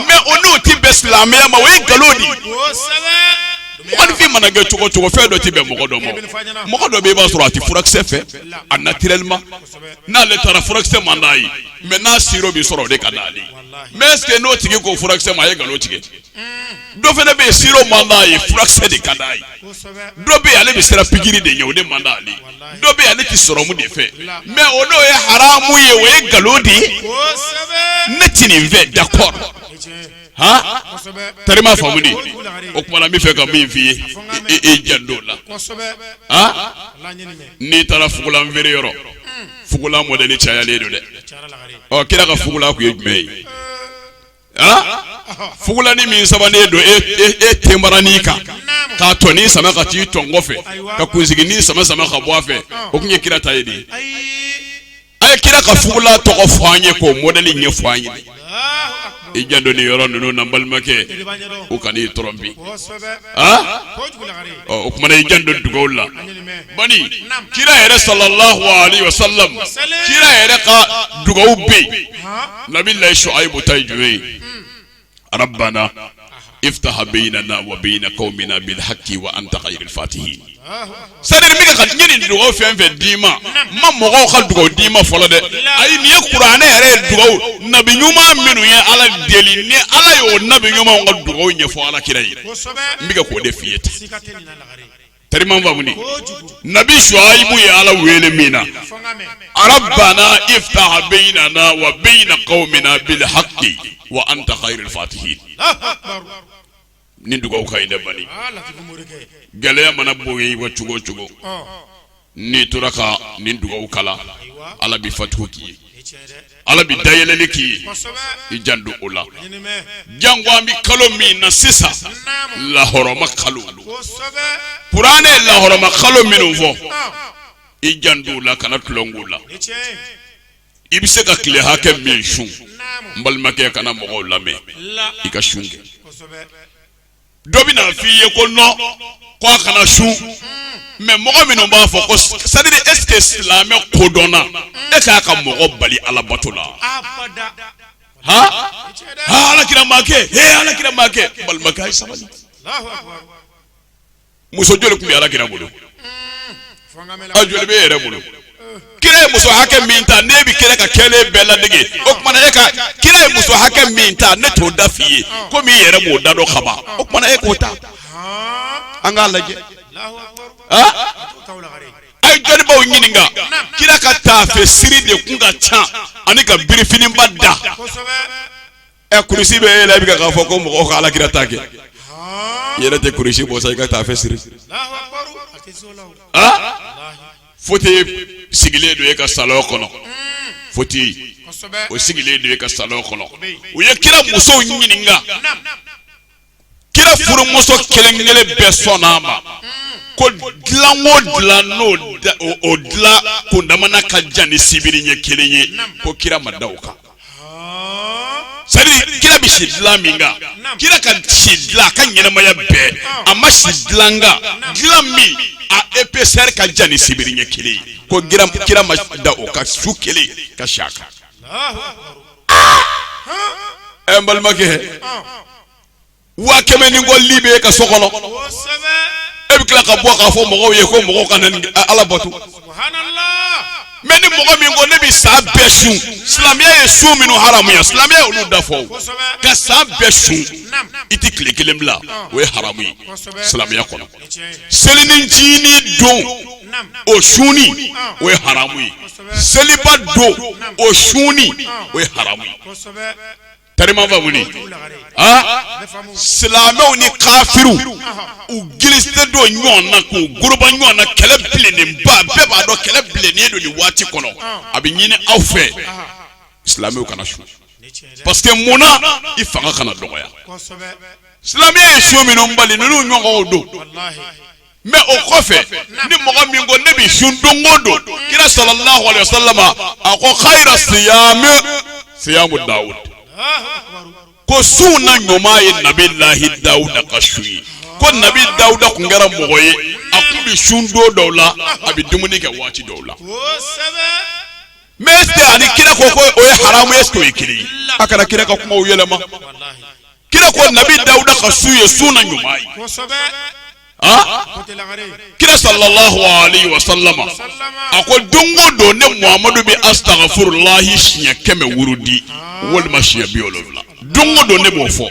mais o n'o ti bɛn silamɛya ma o ye nkalon de ye mɔgɔnifin mana kɛ cogo cogo fɛn dɔ tɛ bɛn mɔgɔ dɔ ma mɔgɔ dɔ bɛ i b'a sɔrɔ a tɛ furakisɛ fɛ a naturellement n'ale taara furakisɛ man d'a ye mais n'a siro bɛ sɔrɔ o de ka d'ale mais est ce que n'o tigi ko furakisɛ ma a ye nkalon tigɛ. dɔ fana bɛ yen siro man d'a ye furakisɛ de ka d'a ye dɔ bɛ yen ale bɛ siran pikiri de ɲɛ o de man d'ale ye dɔ bɛ yen ale tɛ sɔrɔmu de fɛ mais o n'o ye haramu ye o ye nkalon de ye ne tɛ nin fɛ d'accord han tari m'a faamu de o kuma na n bɛ fɛ ka min f'i ye i janto la han n'i taara fugulan feere yɔrɔ fugulan mɔdɛli cayalen don dɛ ɔ kira ka fugulan kun ye jumɛn ye. fugulanin min sabanen don e tenbaranin kan k'a tɔnin sama ka t'i tɔn kɔfɛ ka kunsiginin sama sama ka bɔ a fɛ o kun ye kira ta ye de a ye kira ka fugulan tɔgɔ fɔ an ye k'o mɔdɛli ɲɛfɔ an ye i janto nin yɔrɔ ninnu na n balimakɛ u kan'i tromper o kuma na i janto dugawu la bani kira yɛrɛ salalahu alayihi wa salamu kira yɛrɛ ka dugawu bɛ yen nabi layi suwayibu ta ye jumɛn ye arabana iftaha bainana wa baina qaumina bil haqqi wa anta khairul fatihin c'est-à-dire n bɛ ka ɲini dugawu fɛn fɛn d'i ma n ma mɔgɔw ka dugawu d'i ma fɔlɔ dɛ ayi nin ye kuranɛ yɛrɛ ye dugawu nabi ɲuman minnu ye ala deli ni ala y'o nabi ɲumanw ka dugawu ɲɛfɔ ala kira ye n bɛ ka k'o de f'i ye ten tari m'a faamu nabi suwayibu ye ala wele min na arabana iftaha bainana wa baina qaumina bil haqqi wa anta khairul fatihin nin dugawu ka ɲi dɛ bani aa latifu morikɛ gɛlɛya mana bonya i wa cogo o cogo ɔ n'i tora ka nin dugawu kalan ayiwa ala bi fatihu k'i ye i tiɲɛ dɛ ala bɛ dayɛlɛli k'i ye kosɛbɛ i janto o la ɲinimɛ jango an bɛ kalo min na sisan naamu lahɔrɔma kalo kosɛbɛ kuranɛ ye lahɔrɔma kalo minnu fɔ ɔ i janto o la kana tulon k'o la i tiɲɛ i bɛ se ka tile hakɛ min sun n balimakɛ kana mɔgɔw lamɛn i ka sun kɛ dɔ bɛ na f'i ye ko non ko a kana sun mais mɔgɔ minnu b'a fɔ ko c'est-à-dire est ce que silamɛ kodɔnna e ka kan ka mɔgɔ bali alabato la ala kira m'a kɛ ala kira m'a kɛ balimakɛ a ye sabali muso joli tun bɛ ala kira bolo a joli bɛ yɛrɛ bolo kira ye muso hakɛ min ta ne bɛ kira ka kɛlen bɛɛ ladege o tuma e ka kira ye muso hakɛ min ta ne t'o da f'i ye komi i yɛrɛ b'o da dɔn kaban o tuma e k'o ta an k'a lajɛ a ye dɔnnibaw ɲininka kira ka taafe siri de kun ka ca ani ka birifiniba da ɛ kurusi bɛ e la i bɛ k'a fɔ ko mɔgɔw ka alakira ta kɛ i yɛrɛ tɛ kurusi bɔ sa i ka taafe siri foti sigilen don e ka salon kɔnɔ foti o sigilen don e ka salon kɔnɔ u ye kira musow ɲininka kira furumuso kelen kelen bɛɛ sɔnna a ma ko dilan o dilan n'o dilan kundamana ka jan ni sibiri ɲɛ kelen ye ko kira ma da o kan c'est à dire kira bɛ si dilan min kan kira ka si dilan a ka ɲɛnamaya bɛɛ a ma si dilan kan dilan min a épaisseur ka jan ni sibiri ɲɛ kelen ye ko kira ma da o kan su kelen ka si a kan. ɛ n balimakɛ waa kɛmɛ ni kɔ li bɛ e ka so kɔnɔ e bɛ tila ka bɔ k'a fɔ mɔgɔw ye ko mɔgɔw ka na ni ala bato mais ni mɔgɔ min ko ne bɛ san bɛɛ sun silamɛya ye sun minnu haramuya silamɛya ye olu da fɔ ka san bɛɛ sun i tɛ tile kelen bila o ye haramu ye silamɛya kɔnɔ selinincini don o sunni o ye haramu ye seliba don o sunni o ye haramu ye tarimafa wuli silamɛw ni kafiriw u gilisɛ don ɲɔgɔn na k'u goroba ɲɔgɔn na kɛlɛ bilennen ba bɛɛ b'a dɔn kɛlɛ bilennen don nin waati kɔnɔ a bɛ ɲini aw fɛ silamɛw kana sun parce que munna i fanga kana dɔgɔya silamɛya ye sun minnu bali ninnu ɲɔgɔn don mais o kɔfɛ ni mɔgɔ min ko ne bɛ sun don o don kira sallallahu alaihi wasallam a ko khayra siyamu siyamu dawud ko sun na ɲuman ye nabi lahi dawuda ka sun ye ko nabi dawuda kun kɛra mɔgɔ ye a kun bɛ sun don dɔw la a bɛ dumuni kɛ waati dɔw la mais est ce que ani kira ko ko o ye haramu ye est ce que o ye kelen ye a kana kira ka kumaw yɛlɛma. kira ko nabi dawuda ka sun ye sun na ɲuman ye kira sallallahu alayhi wa sallama a ko don o don ne muhamadu bɛ asitagafurulahi siɲɛ kɛmɛ wurudi walima siɲɛ bi wolonwula don o don ne b'o fɔ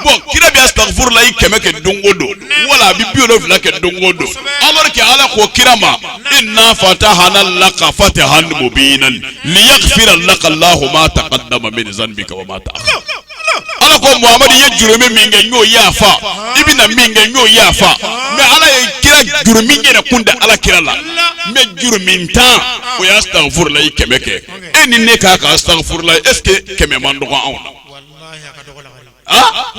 bon kira bɛ asitagafurulahi kɛmɛ kɛ don o don wala a bɛ bi wolonwula kɛ don o don alors que ala ko kira ma inna fatahana laka fatahan mubinan liyagfira laka allahu ma taqaddama min zanbika wa ma ta'akhkhara ala ko muhamadu ye jurumu min kɛ n y'o yafa i bɛna min kɛ n y'o yafa mais ala ye kira jurumu yɛrɛ kun tɛ ala kira la mais jurumuntan o y'asitagafurulayi kɛmɛ kɛ e ni ne k'an k'asitagafurula est ce que kɛmɛ man dɔgɔ anw na. Ah?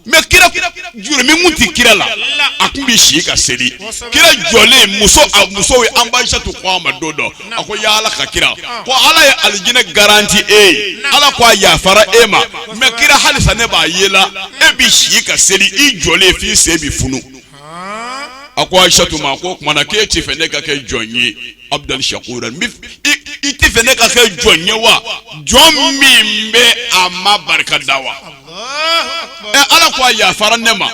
mais kira jurumu kun tɛ kira la a tun bɛ si ka seli kira jɔlen muso a muso ye an ba ayisatu ko a ma don dɔ a ko ya ala ka kira ko ala ye alijinɛ garanti e ye ala ko a yafara e ma mais kira halisa ne b'a ye la e bɛ si ka seli i jɔlen f'i sen bɛ funu a ko ayisatu ma ko o tuma na k'e tɛ fɛ ne ka kɛ jɔn ye abdan shakura i tɛ fɛ ne ka kɛ jɔn ye wa jɔn min bɛ a ma barika da wa ɛ ala ko a yafara ne ma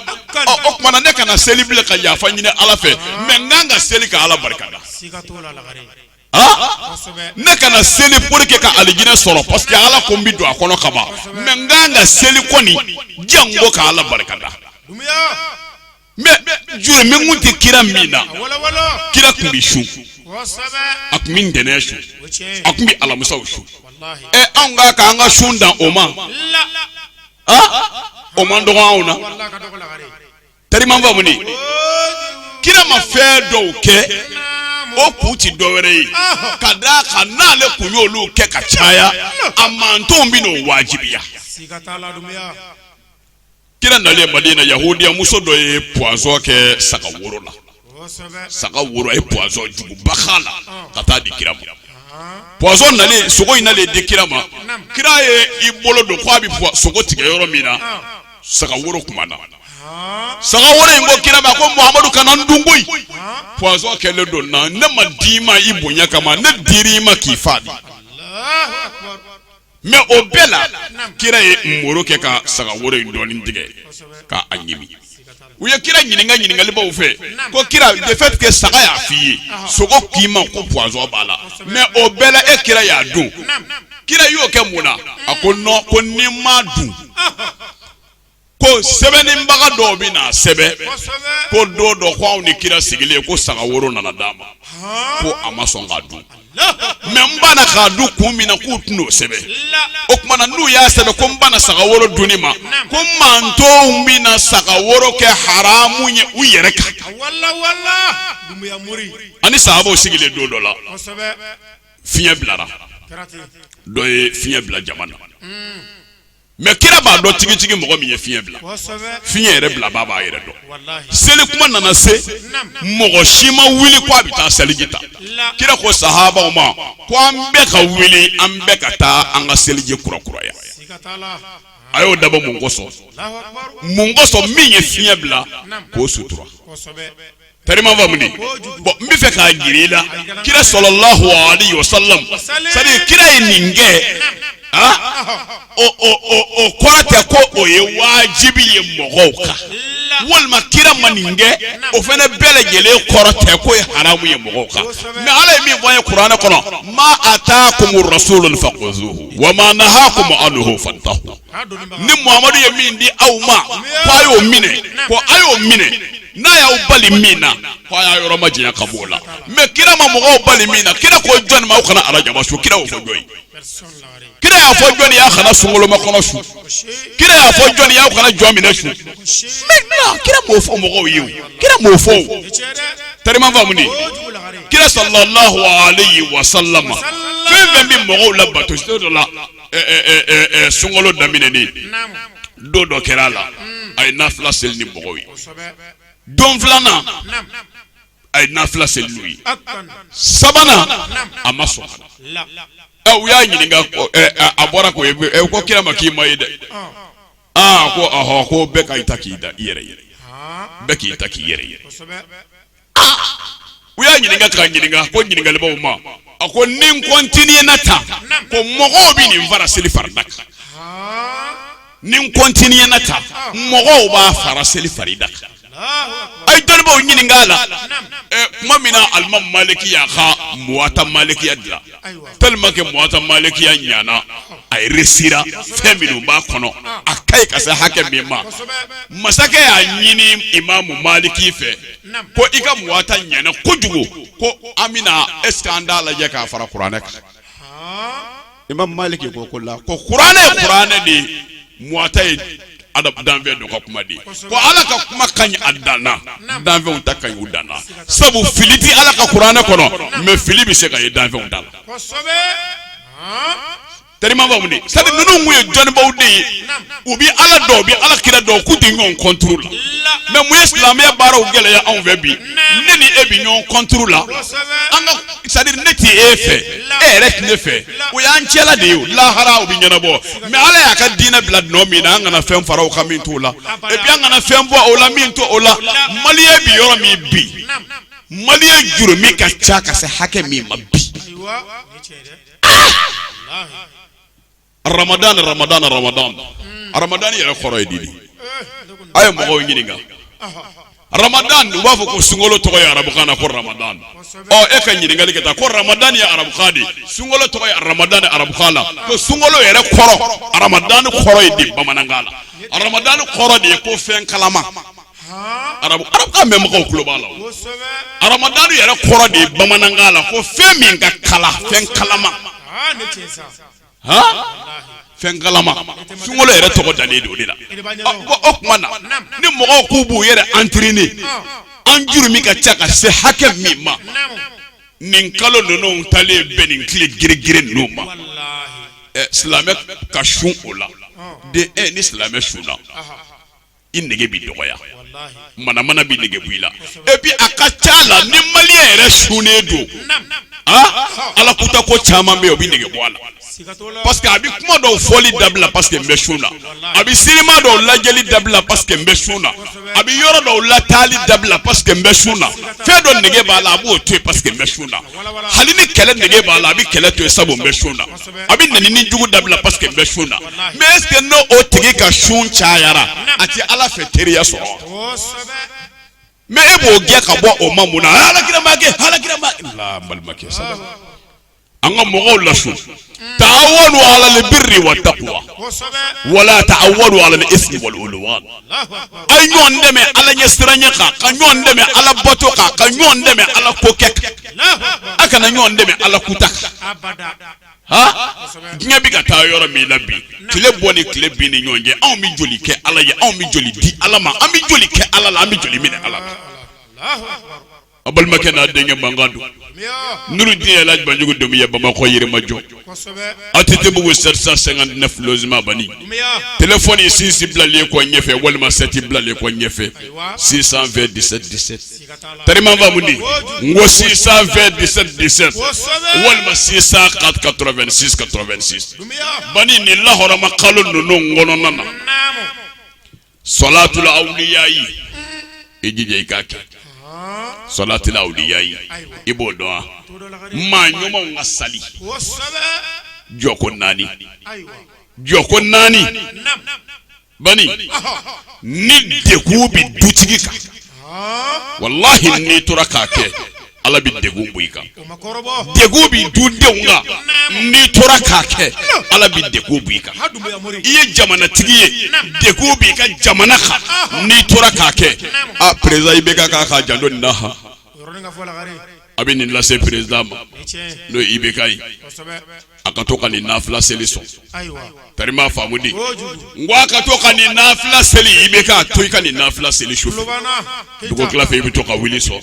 o tuma na ne kana seli bilen ka yafa ɲini ala fɛ mais n kan ka seli ka ala barika da ne kana seli pour que ka alijinɛ sɔrɔ parce que ala ko n bɛ don a kɔnɔ kaban mais n kan ka seli kɔni janko ka ala barika da. mais jurumu kun tɛ kira min na kira tun bɛ sun a tun bɛ ntɛnɛn sun a tun bɛ alamisaw sun ɛ anw ka k'an ka sun dan o ma o man dɔgɔ anw na tariman faamu de kira ma fɛn dɔw kɛ o kun ti dɔwɛrɛ ye ka d'a kan n'ale kun y'olu kɛ ka caya a mantonw bɛn'o wajibiya. kira nalen madina yahudiya muso dɔ ye pwazɔn kɛ saga woro la saga woro a ye pwazɔn juguba k'a la ka taa di kira ma pwazɔn nalen sogo in nalen di kira ma kira ye i bolo don ko a bɛ sogo tigɛ yɔrɔ min na saga woro kumana saga woro in ko kira ma ko muhamadu kana n dun koyi pwazɔn kɛlen don n na ne ma d'i ma i bonya kama ne dir'i ma k'i faga de. mais o bɛɛ la kira ye muru kɛ ka saga woro in dɔɔni tigɛ k'a ɲimi u ye kira ɲininka ɲininkalibaw fɛ ko kira de fait que saga y'a f'i ye sogo k'i ma ko pwazɔn b'a la mais o bɛɛ la e kira y'a dun kira y'o kɛ mun na a ko nɔn ko ni n m'a dun ko sɛbɛnnibaga dɔw bɛn'a sɛbɛn ko don dɔ ko anw ni kira sigilen ko saga woro nana d'a ma ko a ma sɔn k'a dun mais n banna k'a dun kun min na k'u tɛn'o sɛbɛn o tuma na n'u y'a sɛbɛn ko n banna saga woro dunni ma ko n mantonw bɛna saga woro kɛ haramu ye u yɛrɛ kan ani sahabaw sigilen don dɔ la fiɲɛ bilara dɔ ye fiɲɛ bila jama na. mɛ kira b'a dɔn tigitigi mɔgɔ min ye fiɲɛ bila fiɲɛ yɛrɛ bilabaa b'a yɛrɛ dɔn seli kuma nana se mɔgɔ si ma wuli ko a bɛ taa seliji ta kira ko sahabaw ma ko an bɛɛ ka wuli an bɛɛ ka taa an ka seliji kura kuraya a y'o dabɔ mun kosɔn mun kosɔn min ye fiɲɛ bila k'o sutura tari i m'a faamu de bon n b'a fɛ k'a jira i la kira sallallahu alayhi wa sallama c'est à dire kira ye nin kɛ o kɔrɔ tɛ ko o ye wajibi ye mɔgɔw kan walima kira ma nin kɛ o fana bɛɛ lajɛlen kɔrɔ tɛ k'o ye haramu ye mɔgɔw kan mɛ ala ye min fɔ an ye kuranɛ kɔnɔ ma atakumu rasulu fakhuzuhu wa ma nahakum anhu fantahu ni muhamadu ye min di aw ma ko a y'o minɛ ko a y'o minɛ n'a y'aw bali min na ko a y'a yɔrɔ majanya ka b'o la mɛ kira ma mɔgɔw bali min na kira ko jɔni ma aw kana arajaba sun kira y'o fɔ jɔn ye kira y'a fɔ jɔni y'aw kana sunkolomakɔnɔ sun kira y'a fɔ jɔni y'aw kana jɔminɛ sun maintenant kira m'o fɔ mɔgɔw ye o kira m'o fɔ tari i m'a faamu de kira sallallahu alayhi wa sallama fɛn fɛn bɛ mɔgɔw la bato dɔ la sunkolo daminɛnen don dɔ kɛra a la a ye nafila seli ni mɔgɔw ye don filanan a ye nafila seli n'u ye sabanan a ma sɔn u y'a ɲininka a bɔra k'u ko kira ma k'i ma ye dɛ aa ko ko bɛɛ ka ta k'i da i yɛrɛ bɛɛ k'i ta k'i yɛrɛ ye u y'a ɲininka k'a ɲininka ko ɲininkalibaw ma a ko ni n kɔntinina tan ko mɔgɔw bɛ nin fara seli farida kan ni n kɔntinina tan mɔgɔw b'a fara seli farida kan a ye dɔnnibaw ɲininka a la kuma min na alimami maliki y'a ka muwata malikiya dilan tellement que Muwatta malikiya ɲana a resira fɛn minnu b'a kɔnɔ a ka ɲi ka se hakɛ min ma masakɛ y'a ɲini imamu maliki fɛ ko i ka Muwatta ɲana kojugu ko an bɛna est ce que an t'a lajɛ k'a fara kuranɛ kan imamu maliki ko kalla ko kuranɛ ye kuranɛ de ye Muwatta ye ala danfɛn dɔ ka kuma de ye ko ala ka kuma ka ɲi a dan na danfɛnw ta ka ɲi u dan na sabu fili tɛ ala ka kuranɛ kɔnɔ mɛ fili bɛ se ka ye danfɛnw ta la tari i m'a faamu de sabu ninnu tun ye dɔnnibaw de ye u bɛ ala dɔn u bɛ ala kira dɔn k'u tɛ ɲɔgɔn contre la mɛ mun ye silamɛya baaraw gɛlɛya anw fɛ bi ne ni e bɛ ɲɔgɔn contre la an ka c'est à dire ne tɛ e fɛ e yɛrɛ tɛ ne fɛ o y'an cɛla de ye lahara o bɛ ɲɛnabɔ mais ala y'a ka diinɛ bila nɔ min na an kana fɛn fara o kan min t'o la e bi an kana fɛn bɔ o la min t'o la maliyɛn bɛ yɔrɔ min bi maliyɛn jurumu ka ca ka se hakɛ min ma bi ramadan ramadan ramadan ramadan yɛrɛ kɔrɔ ye di de a ye mɔgɔw ɲininka Ramadan u b'a fɔ ko sunkolo tɔgɔ ye arabukan na ko Ramadan ɔ e ka ɲininkali kɛ tan ko Ramadan ye arabukan de ye sunkolo tɔgɔ ye Ramadan arabukan na ko sunkolo yɛrɛ kɔrɔ Ramadan kɔrɔ ye di bamanankan na Ramadan kɔrɔ de ye ko fɛn kalama arabu arabukan mɛn mɔgɔw tulo b'a la Ramadan yɛrɛ kɔrɔ de ye bamanankan na ko fɛn min ka kalan fɛn kalama fɛn kalama sunkolo yɛrɛ tɔgɔ dalen don o de la o tuma na ni mɔgɔw k'u b'u yɛrɛ entraîner an jurumu ka ca ka se hakɛ min ma nin kalo ninnu taalen bɛn nin tile girigiri ninnu ma silamɛ ka sun o la dɛ e ni silamɛ sunna i nege bɛ dɔgɔya manamana bɛ nege bɔ i la et puis a ka ca a la ni maliyɛn yɛrɛ sunnen don ah ala kuta ko caman bɛ yen o bɛ nege bɔ a la parce que a bɛ kuma dɔw fɔli dabila parce que n bɛ sun na a bɛ sinima dɔw lajɛli dabila parce que n bɛ sun na a bɛ yɔrɔ dɔw lataali dabila parce que n bɛ sun na fɛn dɔ nege b'a la a b'o to yen parce que n bɛ sun na hali ni kɛlɛ nege b'a la a bɛ kɛlɛ to yen sabu n bɛ sun na. a bɛ nenini jugu dabila parce que n bɛ sun na mais est ce que n'o o tigi ka sun cayara a tɛ ala fɛ teriya sɔrɔ mais e b'o gɛn ka bɔ o ma mun na ala kira m'a kɛ ala kira ma la balimakɛ sabu an ka mɔgɔw lasun ta'awanu ala al-birri wa taqwa wala ta'awanu ala al-ithmi wal udwan a ye ɲɔgɔn dɛmɛ ala ɲɛsiranya kan ka ɲɔgɔn dɛmɛ ala bato kan ka ɲɔgɔn dɛmɛ ala ko kɛ kan a kana ɲɔgɔn dɛmɛ ala kuta kan diɲɛ bɛ ka taa yɔrɔ min la bi tile bɔ ni tile bin ni ɲɔgɔn cɛ anw bɛ joli kɛ ala ye anw bɛ joli di ala ma an bɛ joli kɛ ala la an bɛ joli minɛ ala la a balimakɛ n'a denkɛ mankan don nurudin el hadj banjugu dumbiya bamakɔ yirimajɔ aw tɛ tɛ bugu sɛsa sɛgɛn ne filima ban t fɔ sinsi bilalen kɔ ɲɛfɛ walima sɛti bilalen kɔ ɲɛfɛ sisan fɛ disɛ disɛ tma babu n ko sisan fɛ disɛ disɛ walima sisan ka ka sisan ka ban ni lahɔrɔma kalo ninnu kɔnɔna na salatul awliya ye i jija i k'a kɛ salatul awliya ye i b'o dɔn wa maa ɲumanw ka sali jɔko naani jɔko naani bani ni degun bɛ dutigi kan. walahi n'i tora k'a kɛ ala bɛ dɛgun bɔ i kan dɛgun bɛ dudenw kan n'i tora k'a kɛ ala bɛ dɛgun bɔ i kan i ye jamanatigi ye dɛgun bɛ i ka jamana kan n'i tora k'a kɛ a président IBK k'a k'a janto nin na a bɛ nin lase président ma n'o ye IBK ye a ka to ka nin nafila seli sɔn tarima faamudi n ko a ka to ka nin nafila seli IBK to i ka nin nafila seli su fɛ dugutila fɛ i bɛ to ka wuli sɔn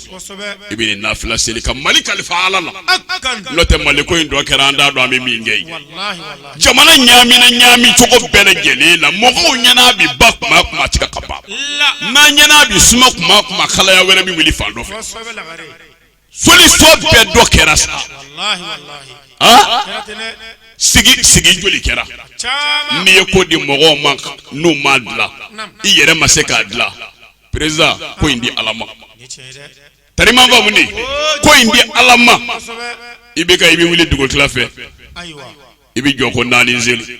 i bɛ nafila seli ka mali kalifa ala la n'o tɛ mali ko in tɔ kɛra an t'a dɔn an bɛ min kɛ ye jamana ɲamina ɲami cogo bɛɛ lajɛlen la mɔgɔw ɲɛna bi ba kuma o kuma a tɛ kɛ ka ban n'an ɲɛna bi suma kuma o kuma kalaya wɛrɛ bɛ wuli fan dɔ fɛ solution bɛɛ dɔ kɛra sa sigi sigi joli kɛra n'i ye ko di mɔgɔw ma n'u m'a dilan i yɛrɛ ma se k'a dilan président ko in di ala ma tarima faamudi ko in di ala ma IBK i bɛ wuli dugutila fɛ i bɛ jɔ ko naani seli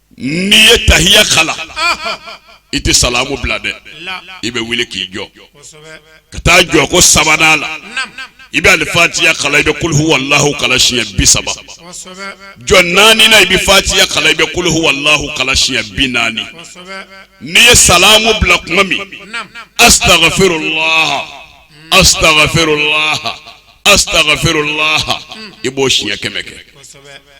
n'i ye tahiya kalan i tɛ salamu bila dɛ i bɛ wuli k'i jɔ ka taa jɔ ko sabanan la i bɛ alifatiya kalan i bɛ kuluhu walahu kalan siɲɛ bi saba jɔ naaninan i bɛ fatiya kalan i bɛ kuluhu walahu kalan siɲɛ bi naani n'i ye salamu bila kuma min asitagafirulaha asitagafirulaha asitagafirulaha i b'o siɲɛ kɛmɛ kɛ.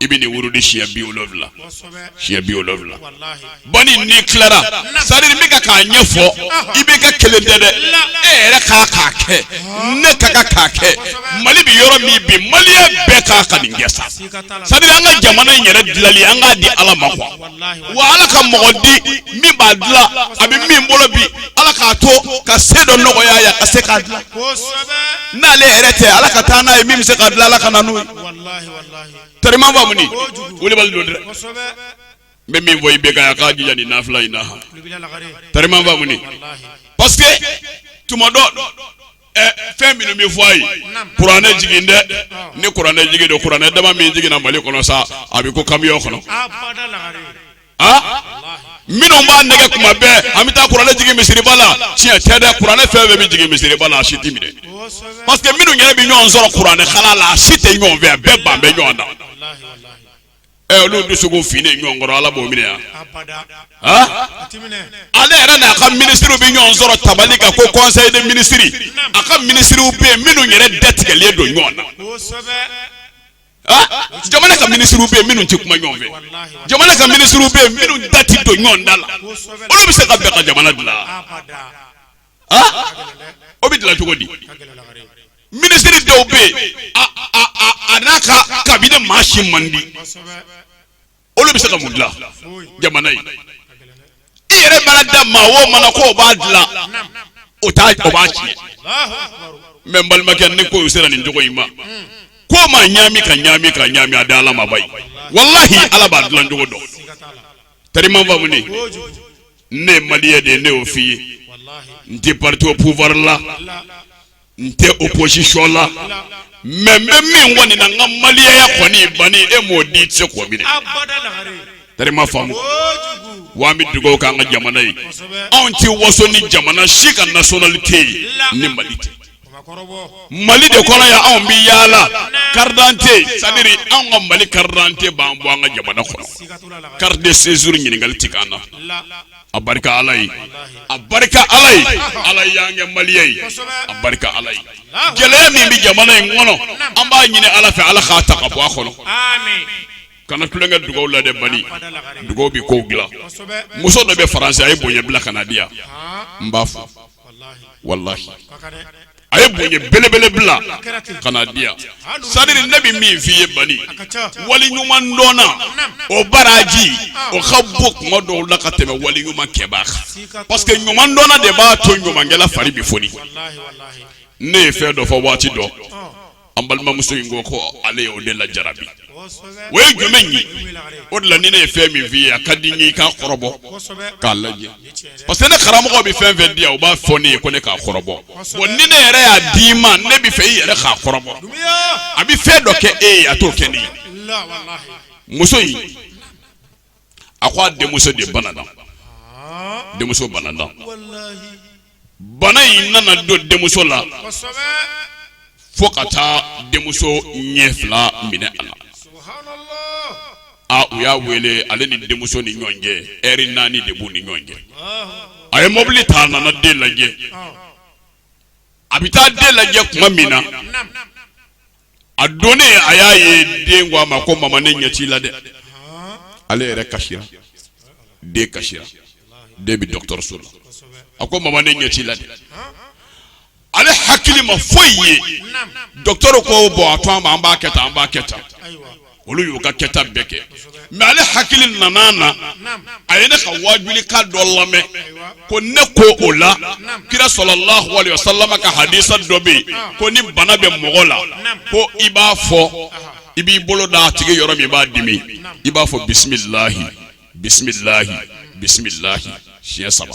i bɛ nin wurudi siɲɛ bi wolonwula siɲɛ bi wolonwula bani n'i tilara sari bɛ ka k'a ɲɛfɔ IBK kelen tɛ dɛ e yɛrɛ k'a k'a kɛ ne ka ka k'a kɛ mali bɛ yɔrɔ min bi malien bɛɛ k'a ka nin kɛ sa sari an ka jamana in yɛrɛ dilali an k'a di ala ma quoi wa ala ka mɔgɔ di min b'a dilan a bɛ min bolo bi ala k'a to ka se dɔ nɔgɔya ya ka se k'a dilan n'ale yɛrɛ tɛ ala ka taa n'a ye min bɛ se k'a dilan ala ka na n'o ye. tarima faamudi wulibali don dɛ n bɛ min fɔ IBK a k'a jija nin nafila in na han tarima faamudi parce que tuma dɔ ɛ fɛn minnu bɛ fɔ a ye kuranɛ jigin dɛ ni kuranɛ jigin don kuranɛ dama min jiginna mali kɔnɔ sa a bɛ kun kamiyɔn kɔnɔ. minnu b'an nɛgɛn kuma bɛɛ an bɛ taa kuranɛ jigin misiriba la tiɲɛ tɛ dɛ kuranɛ fɛn bɛɛ bɛ jigin misiriba la a si tɛ minɛ parce que minnu yɛrɛ bɛ ɲɔgɔn sɔrɔ kuranɛ kalan la a si tɛ ɲɔgɔn fɛ a bɛɛ ban bɛ ɲɔgɔn na ɛ olu dusukun finnen ɲɔgɔn kɔrɔ ala b'o minɛ yan ale yɛrɛ n'a ka minisiriw bɛ ɲɔgɔn sɔrɔ tabali kan ko conseil de ministre a ka minisiriw bɛ yen minnu yɛrɛ datigɛlen don ɲɔgɔn na. Ah, jamana ka minisiriw bɛ yen minnu tɛ kuma ɲɔgɔn fɛ jamana ka minisiriw bɛ yen minnu da tɛ don ɲɔgɔn da la olu bɛ se ka bɛn ka jamana dilan ah, o bɛ dilan cogo di minisiri dɔw bɛ yen a n'a ka cabinet maa si man di olu bɛ se ka mun dilan jamana ye i yɛrɛ mana da maa o maa na ko o b'a dilan o t'a o b'a tiɲɛ mɛ n balimakɛ ni ko sera nin cogo in ma ko ma ɲaami ka ɲaami ka ɲaami a da ala ma bayi walahi ala b'a dilan cogo dɔn tari m'a faamu ne ne ye maliyɛn de ye ne y'o f'i ye n tɛ parti au pouvoir la n tɛ opposition la mais n bɛ min kɔni na n ka maliyɛnya kɔni banni e m'o di i tɛ se k'o minɛ tari m'a faamu wa an bɛ dugawu k'an ka jamana ye anw tɛ waso ni jamana si ka nationalité ye ni mali tɛ mali de kɔnɔ yan anw bɛ yaala carte d'identité c'est à dire anw ka mali carte d'identité b'an bɔ an ka jamana kɔnɔ carte de séjour ɲininkali tɛ k'an na. a barika ala ye a barika ala ye ala y'an kɛ maliyɛn ye a barika ala ye gɛlɛya min bɛ jamana in kɔnɔ an b'a ɲini ala fɛ ala k'a ta ka bɔ a kɔnɔ kana tulonkɛ dugawu la dɛ bani dugawu bɛ kow dilan muso dɔ bɛ faransi a ye bonya bila ka na di yan n b'a fɔ walahi a ye bonya belebele bila ka na di yan c'est à dire ne bɛ min f'i ye bani wali ɲuman dɔnna o baraji o ka bon kuma dɔw la ka tɛmɛ wali ɲuman kɛbaa kan parce que ɲuman dɔnna de b'a to ɲumankɛla fari bɛ foni ne ye fɛn dɔ fɔ waati dɔ an balimamuso in ko ko ale ye o de lajarabi o ye jumɛn ye o de la ni ne ye fɛn min f'i ye a ka di n ye i k'a kɔrɔbɔ k'a lajɛ parce que ne karamɔgɔ bɛ fɛn fɛn di yan o b'a fɔ ne ye ko ne k'a kɔrɔbɔ bon ni ne yɛrɛ y'a d'i ma ne b'a fɛ i yɛrɛ k'a kɔrɔbɔ a bɛ fɛn dɔ kɛ e ye a t'o kɛ ne ye muso in a ko a denmuso de banana denmuso banana bana in nana don denmuso la fo ka taa denmuso ɲɛ fila minɛ a la a u y'a wele ale ni denmuso ni ɲɔgɔn cɛ ɛri naani de b'u ni ɲɔgɔn cɛ a ye mɔbili ta a nana den lajɛ a bɛ taa den lajɛ tuma min na a donnen a y'a ye den ko a ma ko mama ne ɲɛ t'i la dɛ ale yɛrɛ kasira den kasira den bɛ dɔgɔtɔrɔso la a ko mama ne ɲɛ t'i la dɛ ale hakili ma foyi ye dɔgɔtɔrɔ ko bon a to an ma an b'a kɛ tan an b'a kɛ tan olu y'u ka kɛta bɛɛ kɛ mais ale hakili nana na a ye ne ka wajulikan dɔ lamɛn ko ne ko o la kira sallallahu alaihi wasallam ka hadisa dɔ bɛ yen ko ni bana bɛ mɔgɔ la ko i b'a fɔ i b'i bolo da a tigi yɔrɔ min b'a dimi i b'a fɔ bisimilahi bisimilahi bisimilahi siɲɛ saba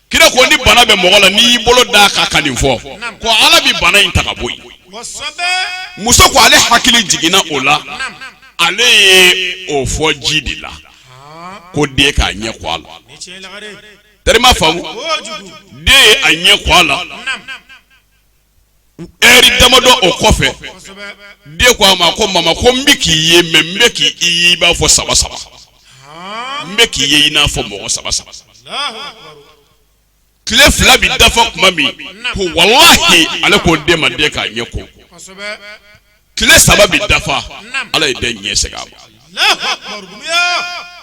kira ko ni bana bɛ mɔgɔ la n'i y'i bolo d'a kan ka nin fɔ ko ala bɛ bana in ta ka bɔ yen muso ko ale hakili jiginna o la ale ye o fɔ ji de la ko den k'a ɲɛ ko a la terima faamu den ye a ɲɛ ko a la heure damadɔ o kɔfɛ den ko a ma ko mama ko n bɛ k'i ye mais n bɛ k'i ye i b'a fɔ saba saba n bɛ k'i ye i n'a fɔ mɔgɔ saba saba tile fila bɛ dafa kuma min ko walahi ale ko den ma den k'a ɲɛ ko tile saba bɛ dafa ala ye den ɲɛ segin a ma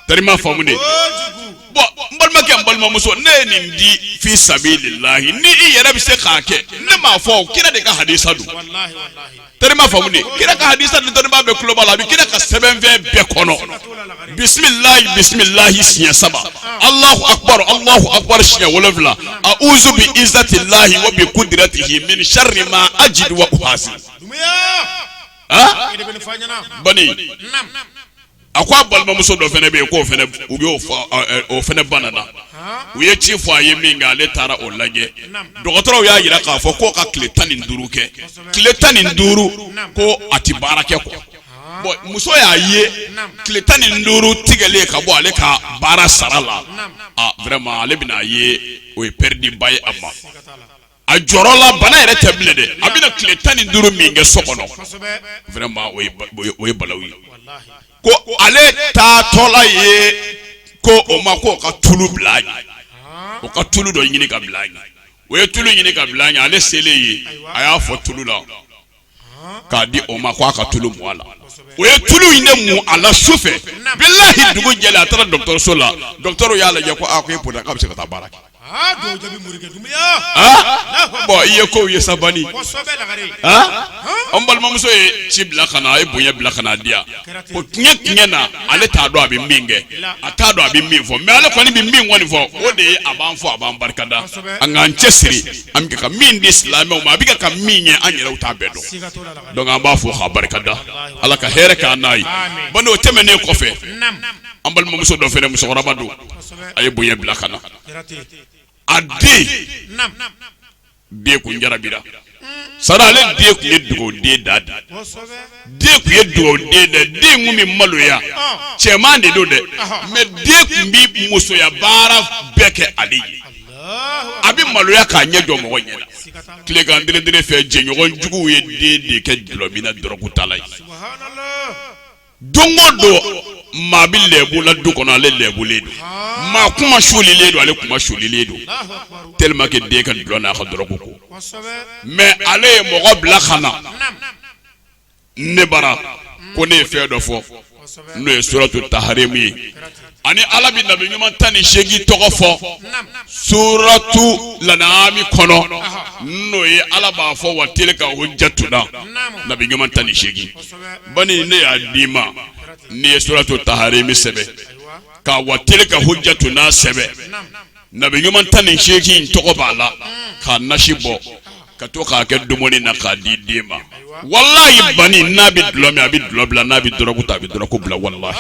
terima faamu dɛ bon n balimakɛ n balimamuso ne ye nin di fi sabilillahi ni i yɛrɛ bɛ se k'a kɛ ne m'a fɔ kira de ka hadisa don terima faamu dɛ kira ka hadisa nin dɔnnibaa bɛɛ tulo b'a la a bɛ kira ka sɛbɛnfɛn bɛɛ kɔnɔ bisimilahi bisimilahi siɲɛ saba alahu akubaru alahu akubaru siɲɛ wolonwula a uzu bi izati lahi wa bi kudiratihi min sari ma ajidu wa uhasi a ko a balimamuso dɔ fana bɛ yen ko o fana banana u ye ci fɔ a ye minkɛ ale taara o lajɛ dɔgɔtɔrɔw y'a jira k'a fɔ ko o ka tile tan ni duuru kɛ tile tan ni duuru ko a tɛ baara kɛ ko bon muso y'a ye tile tan ni duuru tigɛlen ka bɔ ale ka baara sara la vraiment ale bɛna a ye o ye pɛrdi ba ye a ma a jɔrɔ la bana yɛrɛ tɛ bilen dɛ a bɛna tile tan ni duuru min kɛ so kɔnɔ vraiment o ye balawu ye ko ale taatɔla yen ko o ma ko o ka tulu bila a ɲɛ o ka tulu dɔ ɲini ka bila a ɲɛ o ye tulu ɲini ka bila a ɲɛ ale selen yen a y'a fɔ tulu la k'a di o ma ko a ka tulu mu a la o ye tulu in de mu a la su fɛ bilahi dugu jɛlen a taara dɔgɔtɔrɔso la dɔgɔtɔrɔ y'a lajɛ ko a ko e bɔnna k'a bɛ se ka taa baara kɛ. bon i ye kow ye sa bani an balimamuso ye ci bila ka na a ye bonya bila ka na di yan ko tiɲɛ tiɲɛ na ale t'a dɔn a bɛ min kɛ a t'a dɔn a bɛ min fɔ mais ale kɔni bɛ min kɔni fɔ o de ye a b'an fɔ a b'an barikada an k'an cɛsiri an bɛ ka min di silamɛw ma a bɛ ka min ye an yɛrɛw t'a bɛɛ dɔn donc an b'a fɔ k'a barikada ala ka hɛrɛ k'an n'a ye bon n'o tɛmɛnen kɔfɛ an balimamuso dɔ fana musokɔrɔba don a ye bonya bila ka na a den de kun jarabira sara ale de kun ye dugawu den da di den kun ye dugawu den dɛ den kun bɛ maloya cɛman de don dɛ mɛ den kun bɛ musoya baara bɛɛ kɛ ale ye a bɛ maloya k'a ɲɛ jɔ mɔgɔ ɲɛ la tilekan d fɛ jɛɲɔgɔn juguw ye den de kɛ dulɔminna dɔrɔkutala ye don o don maa bɛ lɛbu la du kɔnɔ ale lɛbulen don maa kuma sulilen don ale kuma sulilen don tellement que den ka dulɔ n'a ka dɔrɔku ko mɛ ale ye mɔgɔ bila ka na ne bara ko ne ye fɛn dɔ fɔ n'o ye suratu taharimu ye ani ala bɛ nabi ɲuman tan ni seegin tɔgɔ fɔ suratu lanaami kɔnɔ n'o ye ala b'a fɔ wa tilka hujjatuna nabi ɲuman tan ni seegin bani ne y'a d'i ma n'i ye suratu taharimu sɛbɛn ka wa tilka hujjatuna sɛbɛn nabi ɲuman tan ni seegin in tɔgɔ b'a la k'a nasi bɔ ka to k'a kɛ dumuni na k'a di den ma walayi bani n'a bɛ dulɔ min a bɛ dulɔ bila n'a bɛ dɔrɔku ta a bɛ dɔrɔku bila walayi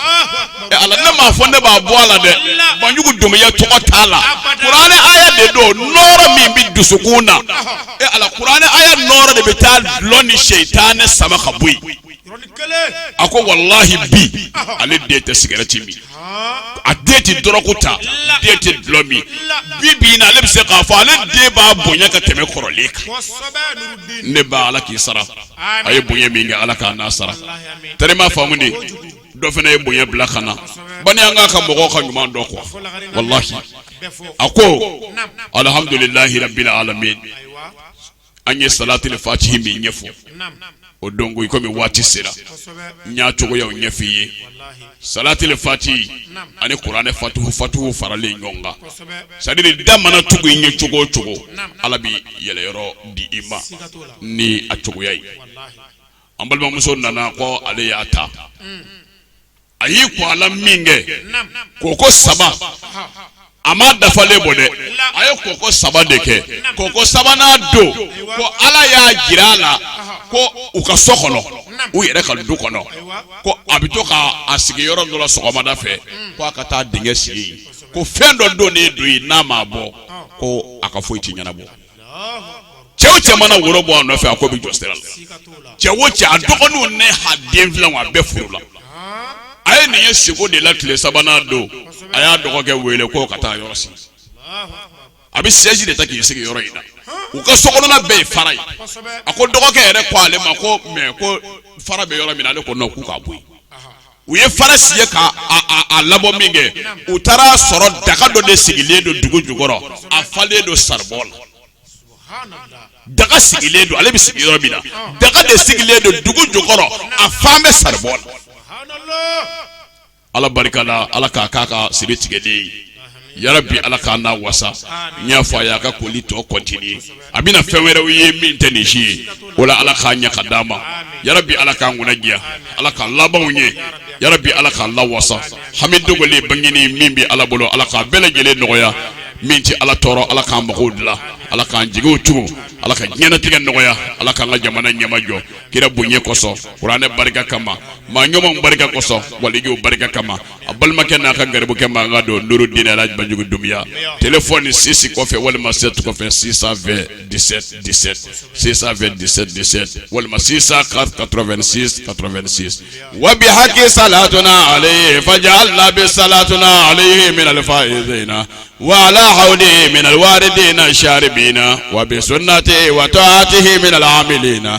ɛ ala ne m'a fɔ ne b'a bɔ a la dɛ banjugu domiya tɔgɔ t'a la kuranɛ aya de don nɔɔrɔ min bɛ dusukun na ɛ ala kuranɛ aya nɔɔrɔ de bɛ taa dulɔ ni seitanɛ sama ka bɔ yen a ko walayi bi ale den tɛ sigɛrɛti min a den tɛ dɔrɔku ta den tɛ dulɔ min bi bi na ale bɛ se k'a fɔ ale den b'a bonya ka tɛmɛ kɔrɔlen kan ne ba ala k'i sara a ye bonya min kɛ ala k'a n'a sara tari i m'a faamu de dɔ fana ye bonya bila ka na bani an ka ka mɔgɔw ka ɲuman dɔn kuwa walayi a ko alihamdulilahi rabili alamin an ye salatul fatihi min ɲɛfɔ o don ko i komi waati sera n y'a cogoyaw ɲɛfɔ i ye salatul fatihi ani kuranɛ fatu fatuhu faralen ɲɔgɔn kan c'est à dire da mana tugu i ɲɛ cogo o cogo ala bɛ yɛlɛyɔrɔ di i ma ni a cogoya ye an balimamuso nana ko ale y'a ta a y'i ko a la min kɛ koko saba a ma dafalen bɔ dɛ a ye koko saba de kɛ koko sabanan don ko ala y'a jira a la ko u ka so kɔnɔ u yɛrɛ ka du kɔnɔ ko a bɛ to k'a sigi yɔrɔ dɔ la sɔgɔmada fɛ ko a ka taa dingɛ sen yen ko fɛn dɔ donnen don yen n'a ma bɔ ko a ka foyi tɛ ɲɛnabɔ cɛ o cɛ mana woro bɔ a nɔfɛ a ko bɛ jɔ sira la cɛ o cɛ a dɔgɔninw n'a den filanw a bɛɛ furula a ye nin ye siko de la tile sabanan don a y'a dɔgɔkɛ wele k'o ka taa yɔrɔ sen a bɛ sɛji de ta k'i sigi yɔrɔ in na u ka sokɔnɔna bɛɛ ye fara ye a ko dɔgɔkɛ yɛrɛ ko ale ma ko mɛ ko fara bɛ yɔrɔ min na ale ko nɔn k'u ka bɔ yen u ye fara siɲɛ ka a labɔ min kɛ u taara sɔrɔ daga dɔ de sigilen don dugu jukɔrɔ a falen don saribɔn la daga sigilen don ale bɛ sigi yɔrɔ min na daga de sigilen don dugu jukɔrɔ a fan bɛ saribɔn la ala barika la ala k'a k'a ka siri tigɛlen ye yarabi ala k'an nawasa n y'a fɔ a ye a ka koli tɔ continuer a bɛna fɛn wɛrɛw ye min tɛ nin si ye o la ala k'a ɲɛ ka d'a ma yarabi ala k'an kunna diya ala k'an laban ɲɛ yarabi ala k'an lawasa hami dogolen bangelen min bɛ ala bolo ala k'a bɛɛ lajɛlen nɔgɔya min tɛ ala tɔɔrɔ ala k'an mago dilan ala k'an jigiw tugu ala ka diɲɛnatigɛ nɔgɔya ala k'an ka jamana ɲɛma jɔ kira bonya kosɔn kuranɛ barika kama maa ɲumanw barika kosɔn walijuw barika kama a balimakɛ n'a ka garibukɛ mankan don nuru di ala banjugu dunya t fɔ ni sisi kɔfɛ walima se tu kɔfɛ sisan sisanfɛ dɛsɛ walima sisan ka ka wabi hakɛ sa la ale fa la sa la ale minɛlifa in na wala ha minɛ wari den na sari bin na wa sotɛ wa ati minɛ la in na